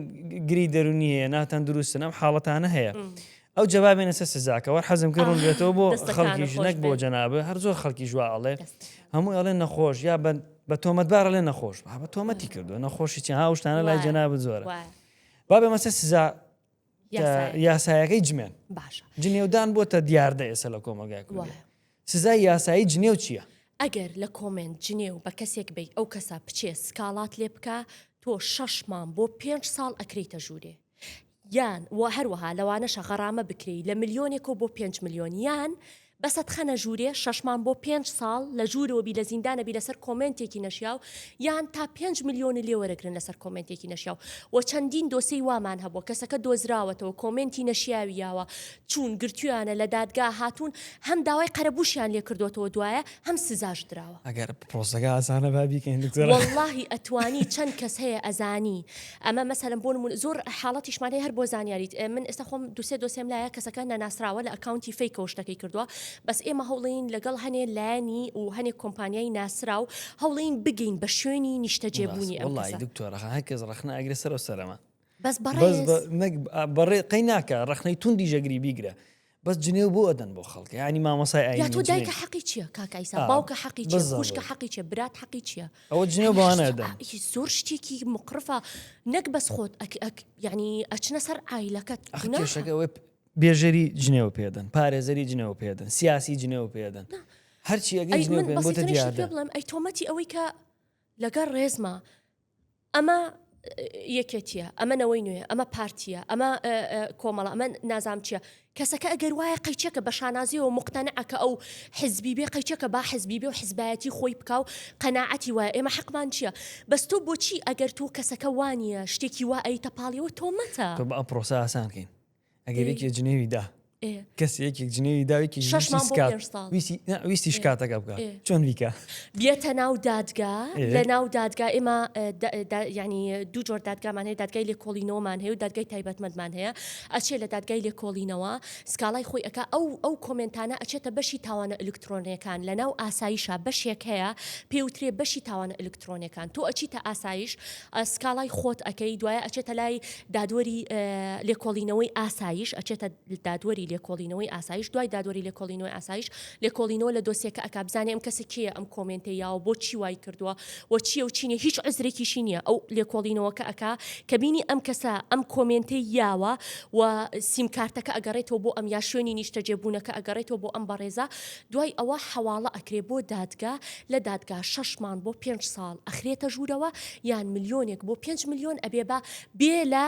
گری دەرونی هەیە ناتەندروستن ئەم حاڵەتانە هەیە. ئەو جوابێنە سە سزاکەەوە حەزم کە ڕوون بێتەوە بۆ خەڵکی ژنەک بۆ جەنابە هەر زۆر خەڵکی ژوا ئەڵێ هەموو ئەڵێ نەخۆش یا بند بە تۆمەتبارە لێ نەخۆش بە تۆمەتی کردو نەخۆشی چ هاوشتانە لای جەناب زۆرە بابێ مەسە سزا یاسایەکەی جمێن جنێودان بۆتە دیاردە ئێسە لە کۆمەلگای کوردی سزای یاسایی جنێو چییە؟ ئەگەر لە کۆمنت جنێو بە کەسێک بی ئەو کەسە بچێ سکاڵات لێ بکە تۆ شەشمان بۆ پێنج ساڵ ئەکریتە ژوورێ یان و هەروەها لەوانەشە غەڕامە بکری لە ملیۆنێکەوە بۆ پێنج ملیۆن یان بەس ئەتخەنە ژورێ شەشمان بۆ پێنج ساڵ لە ژورەوە بی لە زیندانە بی لەسەر کۆمێنتێکی نەشیاو یان تا پێنج ملیۆنی لێ وەرەگرن لەسەر کۆمێنتێکی نەشیاو وە چەندین دۆسێی وامان هەبوە کەسەکە دۆزراوەتەوە کۆمێنتی نەشیاوی یاوە چوون گرتویانە لە دادگا هاتوون هەم داوای قەرەبوشیان لێ کردۆتەوە دوایە هەم سزاش دراوە. ئەگەر پرۆسەکە ئاسانە با بیکەین دکتۆرە. وەڵاهی ئەتوانی چەند کەس هەیە ئەزانی ئەمە مەسەلەن بۆ نموونە زۆر حاڵەتیشمان هەیە هەر بۆ زانیاریت من ئێستا خۆم دوسێ دۆسێم لایە کەسەکە نەناسراوە لە ئەکاونتی فەیکەوە شتەکەی کردووە بەس ئێمە هەوڵین لەگەڵ هەنێ لایەنی و هەنێک کۆمپانیای ناسراو هەوڵین بگەین بە شوێنی نیشتەجێبوونی ئەم کەسە دکتۆر هەر کەس ڕەخنە ئەگرێ سەرەوە سەرەما بەس بەڕێز بەڕێ قەی ناکە ڕەخنەی توندی ژەگری بیگرە بەس جنێو بۆ ئەدەن بۆ خەڵک یعنی مامۆسای ئاینی یا تۆ جنێو دایکە حەقی چییە کاک ئایسا آه، باوکە حەقی چییە بالضبط. خوشکە حەقی چییە برات حەقی چییە ئەوە جنێو یعنی بەوانە هەست- ئەدەن ئا- هی زۆر شتێکی مقرفە نەک بەس خۆت ئەک ئەک یعنی ئەچنە سەر عیلەکەت ئەخ گوناحە. کێشەکە ئەوەی پ- بێژەری جنێو پێدەن پارێزەری جنێو پێدەن سیاسی جنێو پێدەن هەرچی ئەگەی ئەی جنێو من پێن بۆتە بەسیترین شت پێ دیاردە بڵێم ئەی تۆمەتی ئەوەی کە لەگەڵ ڕێزما ئەمە یەکێتیە ئەمە نەوەی نوێ ئەمە پارتیە ئەمە کۆمەڵە ئەمە نازام چیە کەسەکە ئەگەر وایە قەیچەکە بە شانازیەوە مختەنعکە ئەو حزبی بێ قەیچەکە با حزبی بێ و حزبایەتی خۆی بکە و قەنەعەتی وایە ئێمە حەقمان چییە بەس تۆ بۆچی ئەگەر تۆ کەسەکە وانە شتێکی وا ئەیتە پاڵیەوە تۆمەتە ئەم پرۆسە ئاسانکەین ئەگەر یەکێ جنێوی دا کەس یەکێک جنێوی داوێکی ویستی شکاتەکە بکە چۆن بیکە بێتە ناو دادگا لە ناو دادگا ئێمە ینی دوو جۆر دادگامان هەیە دادگای لێ کۆڵینەوەمان هەیە و دادگای تایبەتمەندمان هەیە ئەچێت لە دادگای لێ کۆڵینەوە سکاڵای خۆی ئەک ئەو ئەو کۆمنتانە ئەچێتە بەشی تاوانە ئەلکترۆنیەکان لە ناو ئاساییشە بەشێک هەیە پێوترێ بەشی تاوانە ئەلکتر ترۆنێکان تۆ ئەچیتە ئاسایش سکاڵای خۆت ئەەکەی دوایە ئەچێتە لای دادوەری لێکۆڵینەوەی ئاسایش ئەچێتە دادوەری لێکۆڵینەوەی ئاسایش دوای دادوەری لێکۆڵینەوەی ئاسایش لێکۆڵینەوە لە دۆسیەکە ئەک بزانێ ئەم کەسە کێ ئەم کۆمنتە یاوە بۆ چی وای کردووە و چیە و چینە هیچ عزرێکیشی نییە ئەو لێکۆڵینەوەکە ئەک کە بینی ئەم کەسە ئەم کۆمنتی یاوە و سیمکارتەکە ئەگەڕێتەوە بۆ ئەم یا شوێنی نیشتەجێبوونەکە ئەگەڕێتەوە بۆ ئەم بەڕێزە دوای ئەوە حەواڵە ئەکرێ بۆ دادگا، لە دادگا شەش مانگ بۆ پێنج ساڵ ئەخرێتە ژوورەوە، یان ملیۆنێک بۆ پێنج ملیۆن ئەبێ بە بێ لە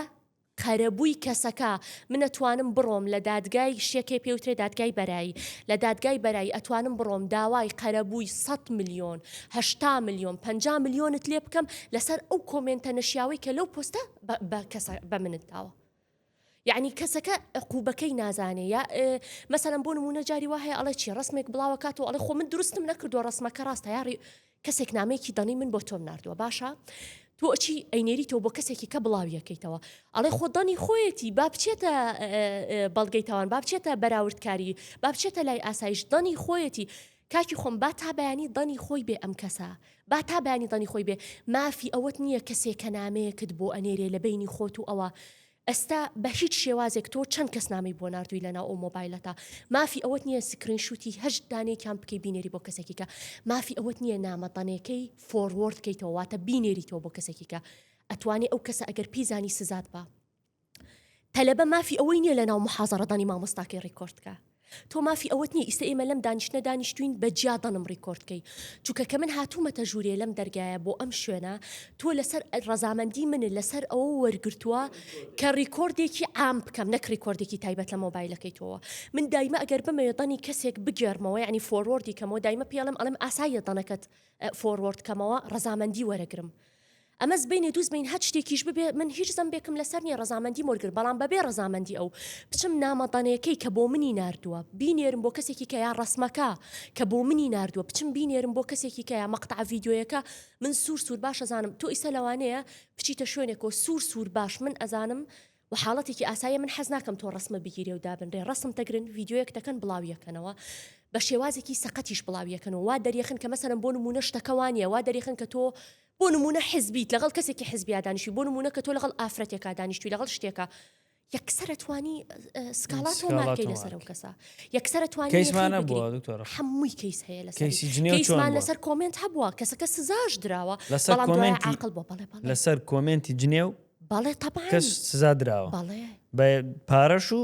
قەرەبووی کەسەکە، من ئەتوانم بڕۆم لە دادگای شتێکێ پێ وترێ دادگای بەرایی، لە دادگای بەرایی ئەتوانم بڕۆم داوای قەرەبووی سەد ملیۆن، هەشتا ملیۆن، پەنجا ملیۆنت لێ بکەم لەسەر ئەو کۆمێنتە نەشیاوەی کە لەو پۆستە بە کەسە بە منت داوە. یەعنی کەسەکە عقوبەکەی نازانێ یا مەسەلەن بۆ نمونە جاری وا هەیە ئەڵێ چی ڕسمێک بڵاوە کاتەوە ئەڵێ خۆ من دروستم نەکردووە ڕسمەکە ڕاستە یاڕی کەسێک نامەیەکی دەڵی من بۆ تۆم نردووە باشە تۆ ئەچی ئەینێری تۆ بۆ کەسێکی کە بڵاویەکەیتەوە ئەڵێ خۆ دەنی خۆیەتی با بچێتە بەڵگەی تاوان با بچێتە بەراوردکاری با بچێتە لای ئاسایش دەنی خۆیەتی کاکی خۆم با تا بەیانی دەنی خۆی بێ ئەم کەسە با تا بەیانی دەنی خۆی بێ مافی ئەوەت نییە کەسێ کە نامەیەکت بۆ ئەنێرێ لە بەینی خۆت و ئەوە ئەستا بە هیچ شێوازێک تۆ چەند کەس نامەی بۆ ناردووی لە ناو ئەو مۆبایلەتا مافی ئەوەت نییە سکرین شوتی هەشت دانەیەکیان بکەی بینێری بۆ کەسێکی کە مافی ئەوەت نییە نامە دەنێکەی فۆڕوۆرد کەیتەوە واتە بینێریتەوە بۆ کەسێکی کە ئەتوانی ئەو کەسە ئەگەر پێی زانی سزات با تەلەبە مافی ئەوەی نییە لە ناو محازڕدانی مامۆستاکەی ڕیکۆردکە تۆ مافی ئەوەت نیە ئیستا ئێمە لەم دانیشتە دانیشتوین بە جیا دەنم ڕیکۆردکەی چونکە کە من هاتوومەتە ژوورێ لەم دەرگایە بۆ ئەم شوێنە تۆ لەسەر ڕەزامەندی من لەسەر ئەوە وەرگتووە کە ڕیکۆردێکی عام بکەم نەک ڕیکۆردێکی تایبەت لە مۆبایلەکەی تۆوە من دایمە ئەگەر بمەوێ دەنی کەسێک بگێرمەوە ینی فۆرۆردی کەمەوە دایمە پێڵم ئەڵم ئاساییە دەنەکەت فۆرۆرد کەمەوە ڕەزامەندی وەرەگرم ئەمە زبەینێ دوو زبەین هەچ شتێکیش ببێ من هیچ زەمبێکم لەسەر نیە ڕەزامەندی مۆرگر بەڵام بەبێ ڕەزامەندی ئەو بچم نامە دەنێکەی کە بۆ منی ناردووە بینێرم بۆ کەسێکی کە یا ڕەسمەکە کە بۆ منی ناردووە بچم بینێرم بۆ کەسێکی کە یا مەقتەع ڤیدیۆیەکە من سوور سوور باش ئەزانم تۆ ئیسە لەوانەیە بچیتە شوێنێکۆ سوور سوور باش من ئەزانم وە حاڵەتێکی ئاساییە من حەز ناکەم تۆ ڕەسمە بگیرێ و دابنرێ ڕەسم دەگرن ڤیدیۆیەک دەکەن بڵاویەکەنەوە بە شێوازێکی سەقەتیش بڵاویەکەنەوە وا دەریەخن کە مەسەرم بۆ نمونە شتەکە وانە وا دەریخن کە تۆ بۆ نمونە حزبیت لەگەڵ کەسێکی حزبیادانیشی بۆ نمونە کە تۆ لەگەڵ ئافرەتێکا دانیشتوی لەگەڵ شتێکە یەکسرە توانی سکاڵات و مارکەی لەسەر و کەسە یەکسرە توانیمانە هەمووی کەیس هەیە لە کەیسمان لەسەر کۆمنت هەبووە کەسەکە سزاش دراوە لەسەر کۆمنتی عقل بۆ بەڵێ لەسەر کۆمنتی جنێو بەڵێ تەبعەن کەس سزا دراوە بەڵێ بە پارەش و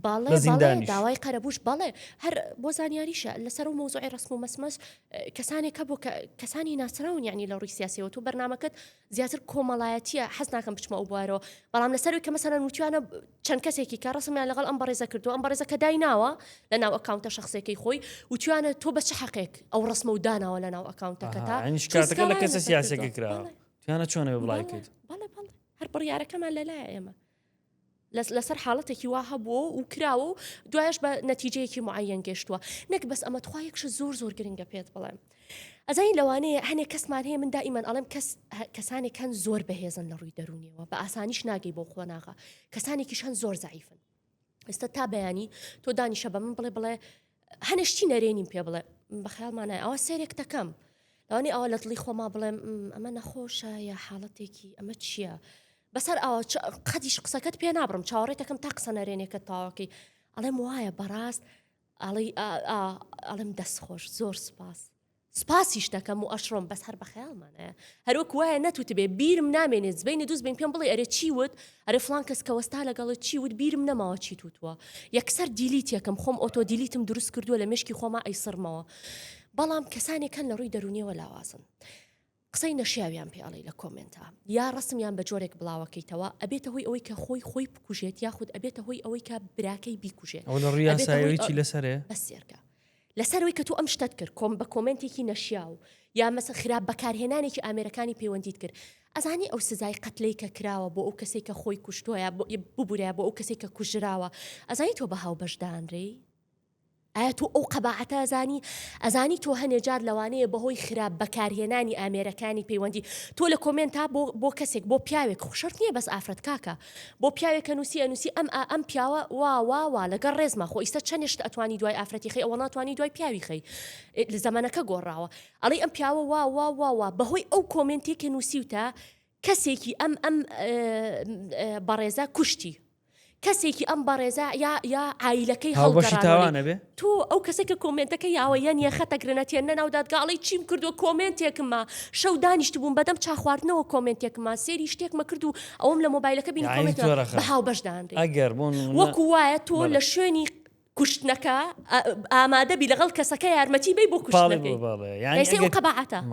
بەڵێ بە بەڵێ زیندانیش. داوای قەرەبوش بەڵێ هەر بۆ زانیاریشە لەسەر و مۆزوعی ڕسم و مەسمەس کەسانێک هەبوو کە کەسانی ناسراون یعنی لە ڕووی سیاسەوە تو بەرنمەکەت زیاتر کۆمەڵایەتیە حەز ناکەم بچمە ئەو بوارەوە بەڵام لەسەروی کە مەسەرەن وتوانە چەند کەسێکی کە ڕسمیان لەگەڵ ئەم بەڕێزە کردو ئەم بەڕێزە کە دای ناوە لە ناو ئەکاونتە شخصێکی خۆی وتوانە تۆ بە چ حەقێک ئەو ڕسمە و داناوە لە ناو ئەکاونتەکەتا ئەها، یعنی شکاتەکە لە کەسە سیاسەکە کراوە. تیانە چۆنە بڵای کرد بەڵێ بەڵێ هەر بڕیارەکەمان لەلای ئێمە لەسەر حاڵەتێکی وا هەبووە و کراوە و دوایش بە نەتیجەیەکی معەن گەشتووە نەک بەس ئەمە توخواەکش زۆر زۆر گرنگە پێت بڵێم ئەزای لەوانەیە هەنێک کەسمان هەیە من دائیمان ئەڵم کەس کەسانێک هەن زۆر بەهێزن لە ڕووی دەرونیەوە بە ئاسانیش ناگەی بۆ قۆناغا کەسانێکیش هەن زۆر زعیفن ئێستا تا بەیانی تۆ دانیشە بە من بڵێ بڵێ هەنێ شتی نەرێنیم پێ بڵێ بە خیاڵمانای ئەوە سێرێک دەکەم ئەوانی ئەوە لە دڵی خۆما بڵێم ئەمە نەخۆشە یا حاڵەتێکی ئەمە چییە بەسەر ئەوە قەتیش قسەکەت پێ نابڕم چاوەڕێتەکەم تا قسە نەرێنێکە تاواکەی ئەڵێم وایە بەڕاست ئەڵێم دەست خۆش زۆر سپاس سپاسیش دەکەم و ئەشڕۆم بەس هەر بەخەیاڵمانەیە هەروەک وایە نەتوتبێ بیرم نامێنێت زبینە دووز بین پێم بڵێ ئەرێ چی وت ئەرێ فلان کەس کە وەستا لەگەڵت چی وت بیرم نەماوە چی توتوە یەکسەر دیلیت یەکەم خۆم ئۆتۆ دیلیتم دروست کردووە لە مشکی خۆما ئەیسڕمەوە بەڵام کەسانێکەن لە ڕووی دەرونیەوە لاوازن قسەی نەشیاویان پێ ئەڵێی لە کۆمێنتا یا ڕەسمیان بە جۆرێک بڵاوەکەیتەوە ئەبێتە هۆی ئەوەی کە خۆی خۆی بکوژێت یاخود ئەبێتە هۆی ئەوەی کە براکەی بیکوژێت ئەو لە ڕیاسایەوەی لەسەرێ بەسێرکە لەسەرەوەی کە تۆ ئەم شتت کرد کۆم بە کۆمنتێکی نەشیاو یا مەسە خراپ بەکارهێنانێکی ئامێرەکانی پەیوەندیت کرد ئەزانی ئەو سزای قەتلەی کە کراوە بۆ ئەو کەسێک کە خۆی کوشتۆە ببورە بۆ ئەو کەسێک کە کوژراوە ئەزانی تۆ بە هاو بەشدانرێی ئایا تۆ ئەو قەباعەتە ئەزانی؟ ئەزانی تۆ هەنێ جار لەوانەیە بەهۆی خراپ بەکارهێنانی ئامێرەکانی پەیوەندی تۆ لە کۆمێنتا بۆ بۆ کەسێک بۆ پیاوێک خو شەرت نیە بەس ئافرەت کاکە بۆ پیاوێک ئەنوسی ئەنوسی ئەم ئا ئەم پیاوە وا وا وا لەگەڵ ڕێزما خۆ ئیستە چەنێ شت ئەتوانی دوای ئافرەتی خەی ئەوە ناتوانی دوای پیاوی خەی زەمەنەکە گۆڕاوە ئەڵی ئەم پیاوە وا وا وا وا بەهۆی ئەو کۆمێنتی کە نوسیوتە کەسێکی ئەم ئەم بەڕێزە کوشتی کەسێکی ئەم بەڕێزە یا یا ئایلەکەی هەڵبەشی تاوانەبێ تۆ ئەو کەسە کە کۆمنتەکە یاوە یان یە خەتە گرنەتێن نەناودات گاڵی چیم کردو کۆمنتێکمە شەو دانیشت بووم بەدەم چاخواردنەوە کۆمنتێکمان سێری شتێکمە کرد و ئەوم لە مۆبایلەکە بینی هاو بەشدان ئەگەر بوون وەکو وایە تۆ لە شوێنی کوشتنەکە ئامادەبی لەگەڵ کەسەکە یارمەتی بەی بۆ کوشتنەکەی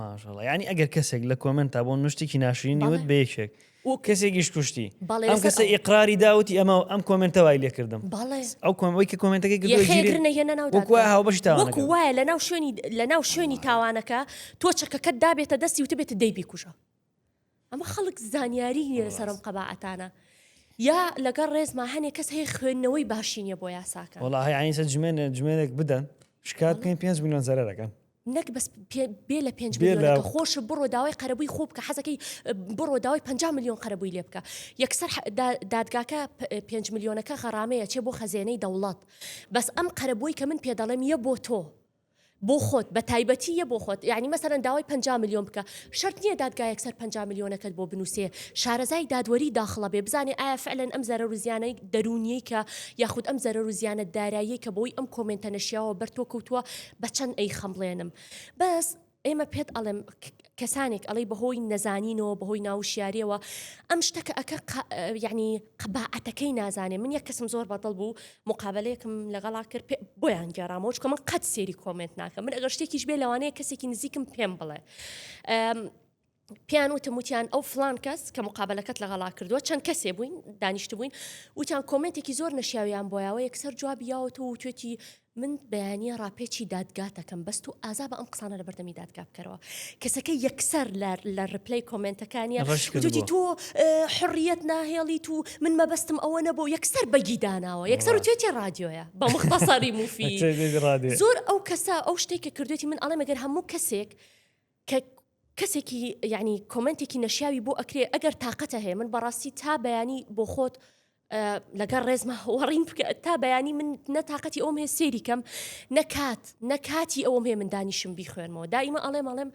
ماشڵە ینی ئەگەر کەسێک لە کۆمنت تا بۆ نوشتێکی ناشرینی وت بەیەکێک و کەسێکیش کوشتی ئەم کەسە ئیقراری داوتی ئەمە ئەم کۆمنتەوای لێکردم ئەو کۆمەوەی کە کۆمنتەکە گرێنەوەکو وایە لە ناو شوێنی لە ناو شوێنی تاوانەکە تۆ چەکەکەت دابێتە دەستی وتبێت دەیبی کوژە ئەمە خەڵک زانیاری نیە لەسەر ئەم قەباعەتانە یا لەگەڵ ڕێزما هەنێک کەس هەیە خوێندنەوەی باشی نیە بۆ یاساکە وڵی ئاینسە جمێنە جمێنێک بدەن شکات پێ پێ میلیۆن زەرەکەن نەک بەس بێ لە پێنج میلیۆنەکە خۆش بڕۆ داوای قەرەبووی خۆ بکە حەزەکەی بڕۆ داوای 5 میلیۆن قەرەبووی لێ بکە یەکسەر دادگاکە 5 میلیۆنەکە غەڕامەیە چێ بۆ خەزێنەی دەوڵات بەس ئەم قەرەبووی کە من پێ دەڵێم یە بۆ تۆ بۆ خۆت بە تایبەتی یە بۆ خۆت یانی مەسەلەن داوای پەنجا ملیۆن بکە شەرت نیە دادگایەک سەر پەنجا ملیۆنەکەت بۆ بنوسێ شارەزای دادوەری داخڵە بێ بزانێ ئایا فعلەن ئەم زەرەرو زیانەی دەرونیەی کە یاخود ئەم زەرەرو زیانە داراییەی کە بەوەی ئەم کۆمێنتە نەشیاوە بەر تۆ کەوتوە بە چەند ئەیخەمڵێنم بەس ئێمە پێت ئەڵێم کەسانێک ئەڵی بەهۆی نەزانینەوە بەهۆی ناوشیارەوە ئەم شتەکە ئەکە یعنی قباعەتەکەی نازانێ من یە کەسم زۆر بەدڵ بوو مقابلەیەکم لەگەڵا کرد بۆیان گەێرامەوە چکە من قەت سێری کۆمنت ناکەم من ئەگەر شتێکیش بێ لەوانەیە کەسێکی نزیکم پێم بڵێ پێیان وتم وتیان ئەو فلان کەس کە مقابلەکەت لەگەڵا کردووە چەند کەسێ بووین دانیشت بووین وتیان کۆمنتێکی زۆر نەشیاویان بۆیاوە یەکسەر جوابیاوەەوە و توێتی من بەیانە ڕاپێچی دادگاتەکەم بەست و ئازا بە ئەم قسانە لە بەردەمی دادگا بکەرەوە کەسەکە یەکسەر لە ڕپلی کۆمنتەکانیان ڕشکردی تۆ حڕیت ناهێڵی تو من مەبەستم ئەوە نەبوو یەکسەر بەگیداناوە یەکسەر و توێتی ڕادیۆیە بە مختصری موفی زۆر ئەو کەسە ئەو شتێک کە کردێتی من ئەڵێ مەگەر هەموو کەسێک کە کەسێکی یعنی کۆمنتێکی نەشیاوی بۆ ئەکرێ ئەگەر تااقەتە هەیە من بەڕاستی تا بەیانی بۆ خۆت لەگەر ڕێزمە هەوەڕین بکە تا بەیانی من نەتاقەتی ئەوم هەیە سێری کەم نەکات نەکاتی ئەوم هەیە من دانیشم بیخوێنمەوە دایمە ئەڵێم ئەڵێم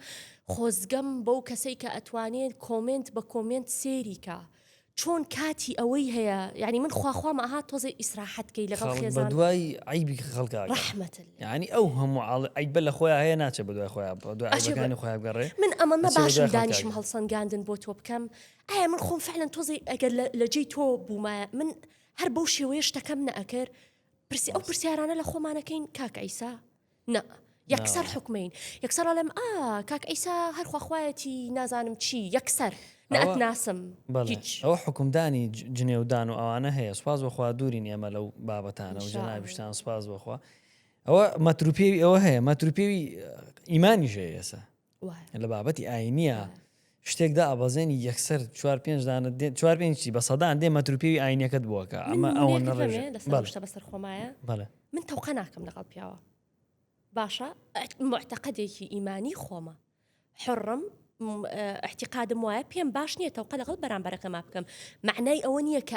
خۆزگەم بەو کەسەی کە ئەتوانێت کۆمنت بە کۆمنت سێریکە چۆن کاتی ئەوەی هەیە یعنی من خواخوامە ئەها تۆزێ ئیسراحەت کەی لەگەڵ خێزان دوای عیبی خەڵکا ڕحمەت ینی ئەو هەموو عیبە لە خۆیان هەیە ناچێت بە دوای خۆیان دوایانی خۆیان گەڕێ من ئەمە نەباشم دانیشم هەڵسەنگاندن بۆ تۆ بکەم ئایا من خۆم فعلەن تۆزی ئەگەر لە جێی تۆ بوومایە من هەر بەو شێوەیە شتەکەم نەئەکرد پرسی ئەو پرسیارانە لە خۆمانەکەین کاک ئەیسا نا یەکسەر حکمین یەکسەر ئەڵێم ئا کاک ئەیسا هەرخواخوایەتی نازانم چی یەکسەر ناتناسم ئەو حکومدانی جنێودان و ئەوانە هەیە سوپاس بخوا دوورین ئێمە لەو بابەتانە و جەنابیشتان سوپاس بخوا ئەوە مەتروپێوی ئەوە هەیە مەتروپێوی ئیمانی ژێ ئێسا لە بابەتی ئاینییە شتێک دابەزێنی یەکسەر چوار پێنج دانە دێن چوار پێنج چی بە سەدان دێ مەتر و پێوی ئاینەکەت بووەکە ئەمە ئەوە من نەڕێژێ. نمونەیەکەمێ لەسەر بەڵێ. شتە بەسەر خۆمایە بەڵێ من تەوقە ناکەم لەگەڵ پیاوە باشە ئەت- معتەقەدێکی ئیمانی خۆمە حڕم احتیقادم وایە پێم باش نییە تەوقە لەگەڵ بەرامبەرەکەما بکەم معنای ئەوە نییە کە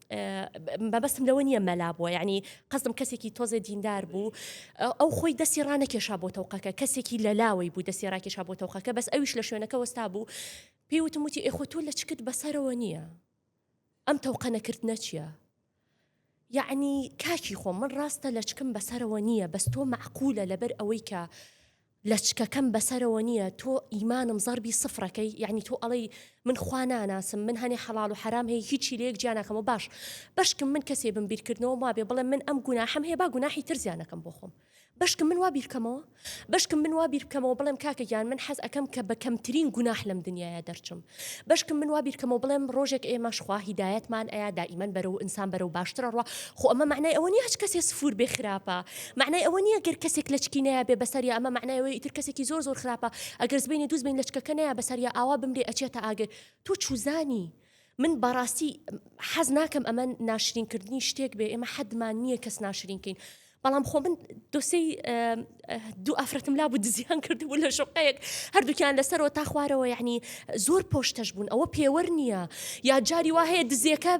مەبەستم لەوە نییە مەلا بووە یعنی قەزم کەسێکی تۆزێ دیندار بوو ئەو خۆی دەستی ڕانەکێشا بۆ تەوقەکە کەسێکی لە لاوەی بوو دەستی ڕاکێشا بۆ تەوقەکە بەس ئەویش لە شوێنەکە وەستا بوو پێی وتم وتی ئێخۆ تۆ لە چکت بەسەرەوە نییە ئەم تەوقە نەکرد نەچیە یعنی کاکی خۆ من ڕاستە لە چکم بەسەرەوە نییە بەس تۆ معقولە لەبەر ئەوەی کە لەچکەکەم بەسەرەوە نیە تۆ ئیمانم زەربی سفرەکەی یەعنی تۆ ئەڵێی من خوا ناناسم من هەنێ حەڵاڵ و حەرام هەیە هیچی لەیەک جیا ناکەمەوە باش بەشکم من کەسێ بم بیرکردنەوە وابێ بڵێم من ئەم گوناحەم هەیە با گوناحی تر زیانەکەم بۆ خۆم بەشکم من وا بیرکەمەوە بەشکم من وا بیرکەمەوە بڵێم کاکە گیان من حەز ئەکەم کە بە کەمترین گوناح لەم دنیاە دەرچم بەشکم من وا بیرکەمەوە بڵێم ڕۆژێک ئێمەش خوا هیدایەتمان ئەیا دائیمەن بەرەو ئینسان بەرەو باشتر ئەڕوا خۆ ئەمە مەعنای ئەوە نیە هەچ کەسێ سفور بێ خراپە مەعنای ئەوە نیە گەر کەسێک لەچکی نەیا بێ بەسەر یا ئەمە مەعنای ئەوەی ئیتر کەسێکی زۆر زۆر خراپە ئەگەر سبەینێ دوو سبەین لەچکەکە نەیا بەسەر یا ئاوا بمرێ ئەچێتە ئاگر تۆ چوزانی من بەڕاستی حەز ناکەم ئەمە ناشرینکردنی شتێک بێ ئێمە حەدمان نییە کەس ناشرینکەین بەڵام خۆ من دۆسەی دوو ئافرەتم لابوو دزیان کردبوو لە شقەیەک هەردووکیان لەسەرەوە تا خوارەوە یعنی زۆر پۆشتەش بوون ئەوە پێوەەر نییە یا جاری وا هەیە دزیەکە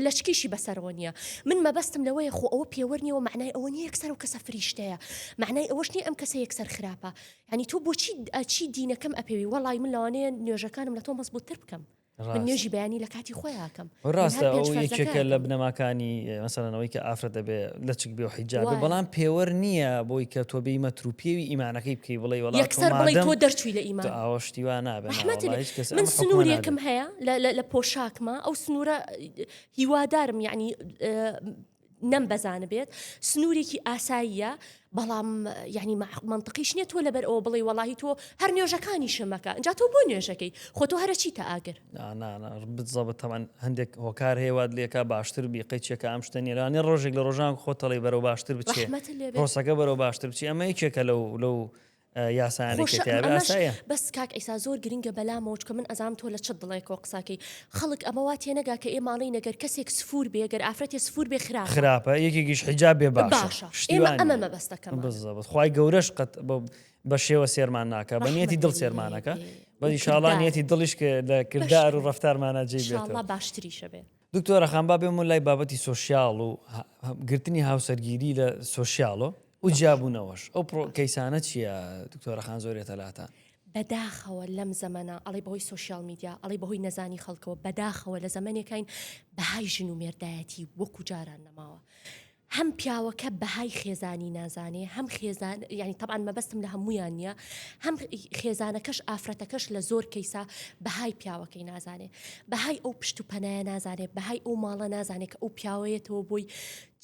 لەچکیشی بەسەرەوە نییە من مەبەستم لەوەیە خۆ ئەوە پێوەەر نیەوە معنای ئەوە نیە یەکسەر و کەسە فریشتەیە معنای ئەوەش نیە ئەم کەسە یەکسەر خراپە ینی تۆ بۆچی ئەچی دینەکەم ئەپێوی وەڵی من لەوانەیە نوێژەکانم لە تۆ مەزبووتتر بکەم من نوێژی بەیانی لە کاتی خۆی ئاکەم ڕاستەکە لە بنەماکانی مەسەرەوەی کە ئافرەت دەبێ لە چک بێ حیجاب بەڵام پێوەەر نییە بۆی کە تۆ بێی مەتروپێوی ئیمانەکەی بکەی بڵێ وڵ یەکسەر بڵی تۆ دەرچوی لە ئیمان ئاوەشتیوا نابێت من سنوورێکم هەیە لە پۆشاکمە ئەو سنوورە هیوادارم یعنی نەم بەزانبێت سنوورێکی ئاساییە بەڵام یعنی مەمنتقیش نیە تۆ لەبەر ئەوە بڵێ وەڵی تۆ هەر نوێژەکانی شمەکە ئەجا تۆ بۆ نوێژەکەی خۆ تۆ هەرە چیتە ئاگر بزەبە تەوان هەندێک هۆکار هەیەوات لێکا باشتر بی قەیچێکە ئەم شتە نیرانێ ڕۆژێک لە ڕۆژان خۆتەڵی بەرەو باشتر بچێت ڕۆسەکە بەرەو باشتر بچی ئەمە یەکێکە لەو لەو یاسایانەی کە تیابێ یاسایە. بەس کاک عیسا زۆر گرنگە بەلامەوە چکە من ئەزام تۆ لە چ دڵێکەوە قساکەی خەڵک ئەمە وا تێنەگا کە ئێ ماڵی نەگەر کەسێک سفور بێ گەر ئافرەتێ سفور بێ خراپ خراپە یەکێکیش حیجاب بێ باشە ئێمە ئەمە مەبەستەکەم بزەبت خی گەورەش قەت بە شێوە سێرمان ناکە بە نیەتی دڵ سێرمانەکە بەدی شاڵانیەتی دڵیش کە لە کردار و ڕفتارمانە جێ باشتریشە بێت دکتۆرە خان با بێمە لای بابەتی سوسیال و گرتنی هاوسەرگیری لە سوسیالۆ و جیابونەوەش ئەو پڕۆ کەیسانە چیە دکتۆرە خان زۆر یەتەلاتان. بەداخەوە لەم زەمەنە ئەڵێی بەهۆی سۆشیال میدیا ئەڵێی بەهۆی نەزانی خەڵکەوە بەداخەوە لە زەمەنێکین بەهای ژن و مێردایەتی وەکو جاران نەماوە هەم پیاوەکە بەهای خێزانی نازانێ هەم خێزان یعنی طبعاان مەبەستم لە هەمویان نییە هەم خێزانەکەش ئافرەتەکەش لە زۆر کەیسا بەهای پیاوەکەی نازانێ بەهای ئەو پشت و پەنایە نازانێت بەهای ئەو ماڵە نازانێت کە ئەو پیاوەیەتەوە بۆی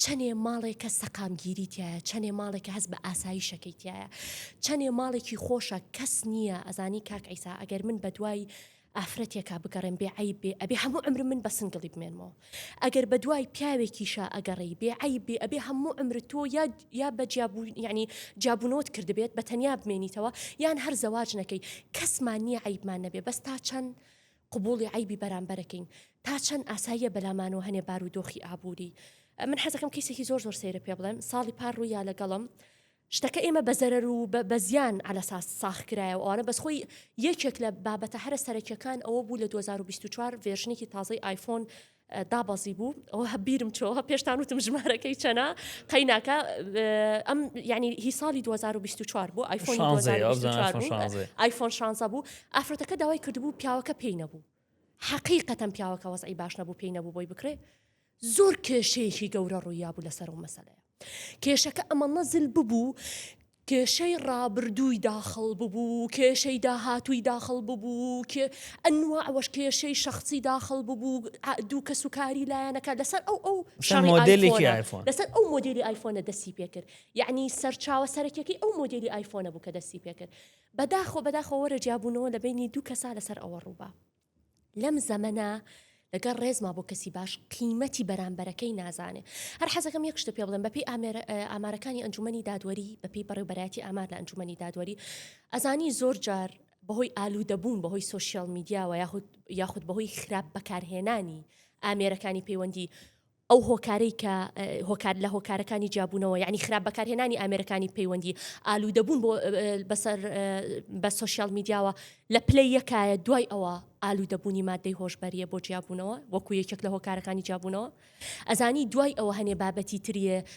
چەنێ ماڵێکە سەقامگیری تیایە چەنێ ماڵێکە هەست بە ئاسایشەکەی تیایە چەنێ ماڵێکی خۆشە کەس نییە ئەزانی کاک عیسا ئەگەر من بەدوای ئافرەتێکا بگەڕێم بێ عیب بێ ئەبێ هەموو عمرم من بە سنگڵی بمێنمەوە ئەگەر بەدوای پیاوێکیشا ئەگەڕێی بێ عیب بێ ئەبێ هەموو عمرت تۆ یا یا بە جیابوو یعنی جابوونەوەت کردبێت بە تەنیا بمێنیتەوە یان هەر زەواج نەکەی کەسمان نییە عیبمان نەبێ بەس تا چەند قبوڵی عەیبی بەرامبەرەکەین تا چەند ئاساییە بەلامانەوە هەنێ بارو دۆخی ئابوری من حەزەکەم کەیسێکی زۆر زۆر سەیرە پێ بڵێم ساڵی پار ڕوویا لەگەڵم شتەکە ئێمە بە زەرەر و بە زیان على ساس ساخ کرایە و ئەوانە بەس خۆی یەکێک لە بابەتە هەرە سەرەکیەکان ئەوە بوو لە 2024 ڤێرژنێکی تازەی آیفۆن دابەزی بوو ئەوە هە بیرم چۆوە پێشتان وتم ژمارەکەی چەنا قەیناکە ئەم ینی هی ساڵی 2024 بوو ئایفۆن ئایفۆن شانزە بوو ئافرەتەکە داوای کردبوو پیاوەکە پێی نەبوو حقیقەتەن پیاوەکە وەزعی باش نەبوو پێی نەبوو بۆی بکرێ زۆر کێشەیەکی گەورە ڕوویا بوو لەسەر و مەسەلەیە کێشەکە ئەمە نەزل ببوو کێشەی ڕابردووی داخڵ ببوو، کێشەی داهاتووی داخڵ ببوو، ئەنواع و کێشەی شەخسی داخڵ ببوو، دوو کەس و کاری لایەنەکان لەسەر ئەو ئەو شەڕی ئایفۆنە، لەسەر ئەو مۆدێلی ئایفۆنە دەستی پێ کرد. یەعنی سەرچاوە سەرەکیەکەی ئەو مۆدێلی ئایفۆنە بوو کە دەستی پێ کرد. بەداخەوە بەداخەوە وەرە جیابوونەوە لە بەینی دوو کەسا لەسەر ئەوە ڕووبا. لەم زەمەنە لەگەر ڕێزما بۆ کەسی باش قیمەتی بەرامبەرەکەی نازانێ هەر حەزەکەم یەک شتە پێ بڵێن بەپی ئامارەکانی ئەنجومی دادوەری بەپی بەڕێبەتی ئامار لە ئەنجومی دادوەری ئەزانی زۆر جار بەهۆی ئالو دەبوون بەهۆی سوسیال میدیاوە یاخود یاخود بەهۆی خراپ بەکارهێنانی ئامێرەکانی پەیوەندی ئەو هۆکارەی کە هۆکار لە هۆکارەکانی جیابوونەوە یعنی خراپ بەکارهێنانی ئامێرەکانی پەیوەندی ئالوودەبوون بۆ بەسەر بە سوسیال میدیاوە لە پلەی یەکایە دوای ئەوە ئالوودەبوونی مادەی هۆشببەریە بۆ جیابوونەوە وەکو یەکێک لە هۆکارەکانی جیابوونەوە ئەزانی دوای ئەوە هەنێ بابەتی تریێ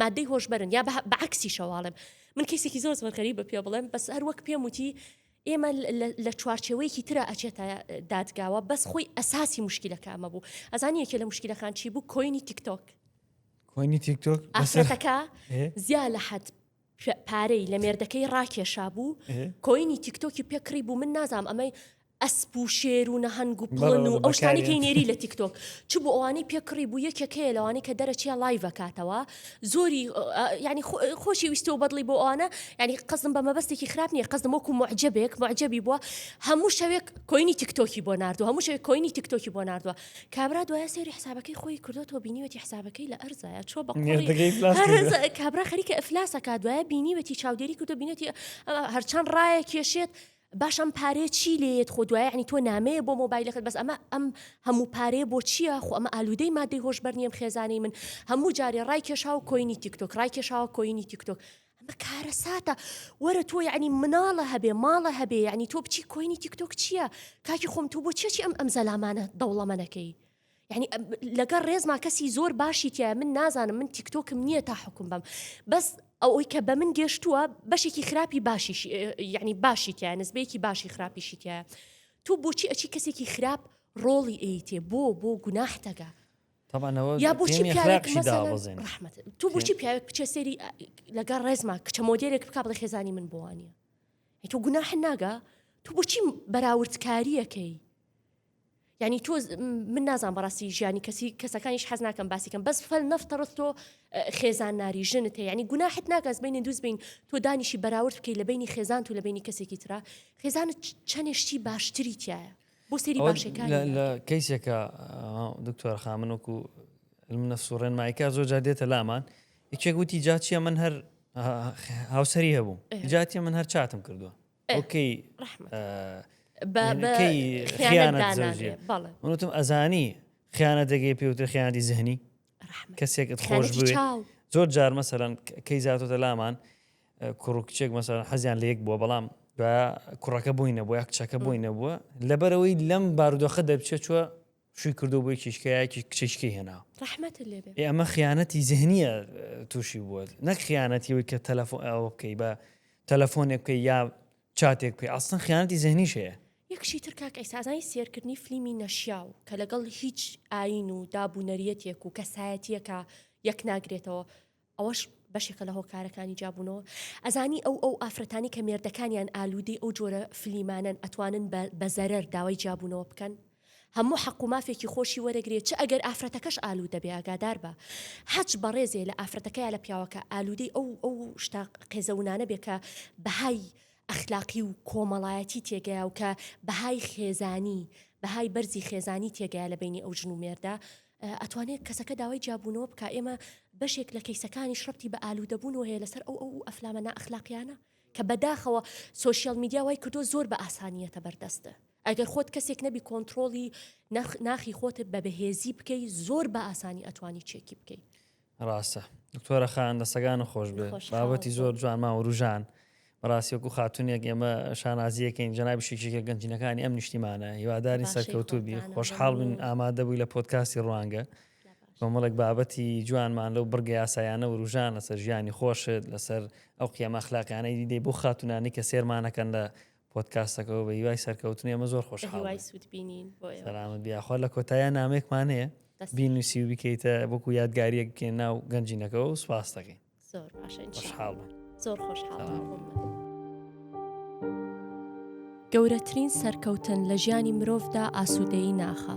مادەی هۆشبەرن یا بە عکسیشەواڵێم من کەسێکی زۆر زۆر غەریبە پێ بڵێم بەس هەر وەک پێم وتی ئێمە لە چوارچێوەیەکی تررا ئەچێتە دادگاوە بەس خۆی ئەساسی مشکلەکەمە بوو ئەزانی یەکێ لە مشکلەکان چی بوو کۆینی تیکتۆک کۆینی تیکتۆک ئافرەتەکە زیا لە حەت پارەی لە مێردەکەی ڕاکێشا بوو کۆینی تیکتۆکی پێکڕی بوو من نازام ئەمەی ئەسپ و شێر و نەهەنگ و پڵن و ئەو شتانەی کەی نێری لە تیک تۆک چ بوو ئەوانەی پێ کڕی بوو یەکێک هەیە لەوانەی کە دەرەچیە لایڤ ئەکاتەوە زۆری یانی خۆشی ویستۆ بەدڵی بۆ ئەوانە یانی قەزم بە مەبەستێکی خراپ نییە قەزم وەکو معجبێک معجبی بووە هەموو شەوێک کۆینی تیک تۆکی بۆ نردوو هەموو شەوێک کۆینی تیک تۆکی بۆ نردووە کابرا دوای سێری حسابەکەی خۆی کردوەوە بینیوەتی حسابەکەی لە ئەرزایە چۆ بە کابرا خەریکە ئەفلاسەکە دوای بینیوەتی چاودێری کردو بینێتی هەرچەند ڕایە کێشێت باش ئەم پارەیە چی لێیەت خۆ دوایە عنی تۆ نامەیە بۆ مۆبایلەکەت بەس ئەمە ئەم هەموو پارەیە بۆ چییە خۆ ئەمە ئالوودەی مادەی هۆشبەر نییەم خێزانەی من هەموو جارێ ڕای کێشاوە کۆینی تیکتۆک ڕای کێشاوە کۆینی تیکتۆک ئەمە کارەساتە وەرە تۆ یعنی مناڵە هەبێ ماڵە هەبێ یعنی تۆ بچی کۆینی تیکتۆک چییە کاکی خۆم تۆ بۆ چێکی ئەم ئەم زەلامانە دەوڵەمەنەکەی یعنی لەگەر ڕێزما کەسی زۆر باشی تایە من نازانم من تیکتۆکم نییە تا حکوم بم بەس ئەوەی کە بە من گەشتووە بەشێکی خراپی باشی یعنی باشی تایە نزبەیەکی باشی خراپیشی تایە تۆ بۆچی ئەچی کەسێکی خراپ ڕۆڵی ئەیتێ بۆ بۆ گوناحتەگە یا بۆچی ڕحمت تو بۆچی پیاوێک بچێ سێری لەگەڵ ڕێزما کچە مۆدیێک بک بڵ خێزانی من بوانە تۆ گوناح ناگە تو بۆچی بەراوردکاریەکەی یانی تۆ من نازان بەڕاستی ژیانی کەسی کەسەکانیش حەز ناکەم باسیکەم بەس فەل نەفتەڕست تۆ خێزان ناری ژنت هەیە ینی گوناحت ناگەز بینی دووست بین تۆ دانیشی بەراورد بکەی لە بینی خێزان و لە بینی کەسێکی تررا خێزانت چەندێشتی باشتری تایە بۆ سری باشەکان لە کەیسێکە دکتۆر خامن وکو منە سوڕێن مایکا زۆر جار دێتە لامان یەکێک وتی جاچیە من هەر هاوسری هەبوو جاتی من هەر چاتم کردووە ئۆکەی منتم ئەزانی خیانە دەگەی پێوتر خیانەتی زهنی کەسێکت خۆش زۆر جار مەسەرەن کەی زیاتۆتە لامان کوڕکچێک مەسەرەن حەزیان لە یەک بووە بەڵام کوڕەکە بووی نەبووە کچەکە بووی نەبووە لەبەرەوەی لەم بارودۆخە دەبچێت چوە شوی کردوە بۆی کیشکایەکی کچیشکی هێنا ڕحمەت لێ بێ ئەمە خیانەتی زهنیە تووشی بووە نەک خیانەتی وی کە تەلەفۆن ئەوە بکەی بە تەلەفۆنێک بکەی یا چاتێک پێ ئاستن خیانەتی زهنیش هەیە یەکشی تر کاک ئەیسازانی سێرکردنی فلیمی نەشیاو کە لەگەڵ هیچ ئاین و دابوونەریەتێک و کەسایەتیەکە یەک ناگرێتەوە ئەوەش بەشێکە لە هۆکارەکانی جیابوونەوە. ئەزانی ئەو ئەو ئافرەتانەی کە مێردەکانیان ئالوودەی ئەو جۆرە فلیمانەن ئەتوانن بە بە زەرەر داوای جیابوونەوە بکەن؟ هەموو حەق و مافێکی خۆشی وەرەگرێ چ ئەگەر ئافرەتەکەش ئالوودە بێ ئاگادار بە هەچ بەڕێزێ لە ئافرەتەکە یا لە پیاوەکە ئالوودەی ئەو ئەو شتە قێزەونانە بێ کە بەهای ئەخلاقی و کۆمەڵایەتی تێگەیە و کە بەهای خێزانی بەهای بەرزی خێزانی تێگەیە لە بەینی ئەو ژن و مێردە ئەتوانێت کەسەکە داوای جیابوونەوە بکا ئێمە بەشێک لە کەیسەکانیش ڕەتی بە ئالوودەبوونەوە هەیە لەسەر ئەو ئەو ئەفلامە نائەخلاقیانە کە بەداخەوە سوۆشیال میدیا وای کردو زۆر بە ئاسانیەتە بەردەستە ئەگەر خۆت کەسێک نەبی کۆنتترۆڵی ناخی خۆتت بە بەهێزی بکەی زۆر بە ئاسانی ئەتوانی چێکی بکەیت ڕاستە دکتۆرە خان دەسەگان خۆش بێ بابەتی زۆر جوانما وروژان بەڕاستی وەکو خاتونێک ئێمە شانازیەکەین جەنابی شێکێکە گەنجینەکانی ئەم نیشتیمانە هیواداری سەرکەوتوبی خۆشحاڵ بن ئامادە بووی لە پۆتکاستی ڕوانگە کۆمەڵێک بابەتی جوانمان لەو بڕگە یاسایانە وروژان لەسەر ژیانی خۆشت لەسەر ئەو قیەمە خلاقیانەی دیدەی بۆ خاتونانی کە سێرمانەکەن لە پۆتکاستەکەەوە بە هیوای سەرکەوتنی ئەمە زۆر خۆش هیوای سوود بینین سەلامت بیاخوا لە کۆتایە نامێکمان هەیە بینوسی و بکەیتە بکو یادگاریەک بکە ناو گەنجینەکەەوە و سوپاستەکەی زۆر باشە خۆشحاڵ زۆر خۆشحاڵ گەورەترین سەرکەوتن لە ژیانی مرۆڤدا ئاسوودەیی ناخە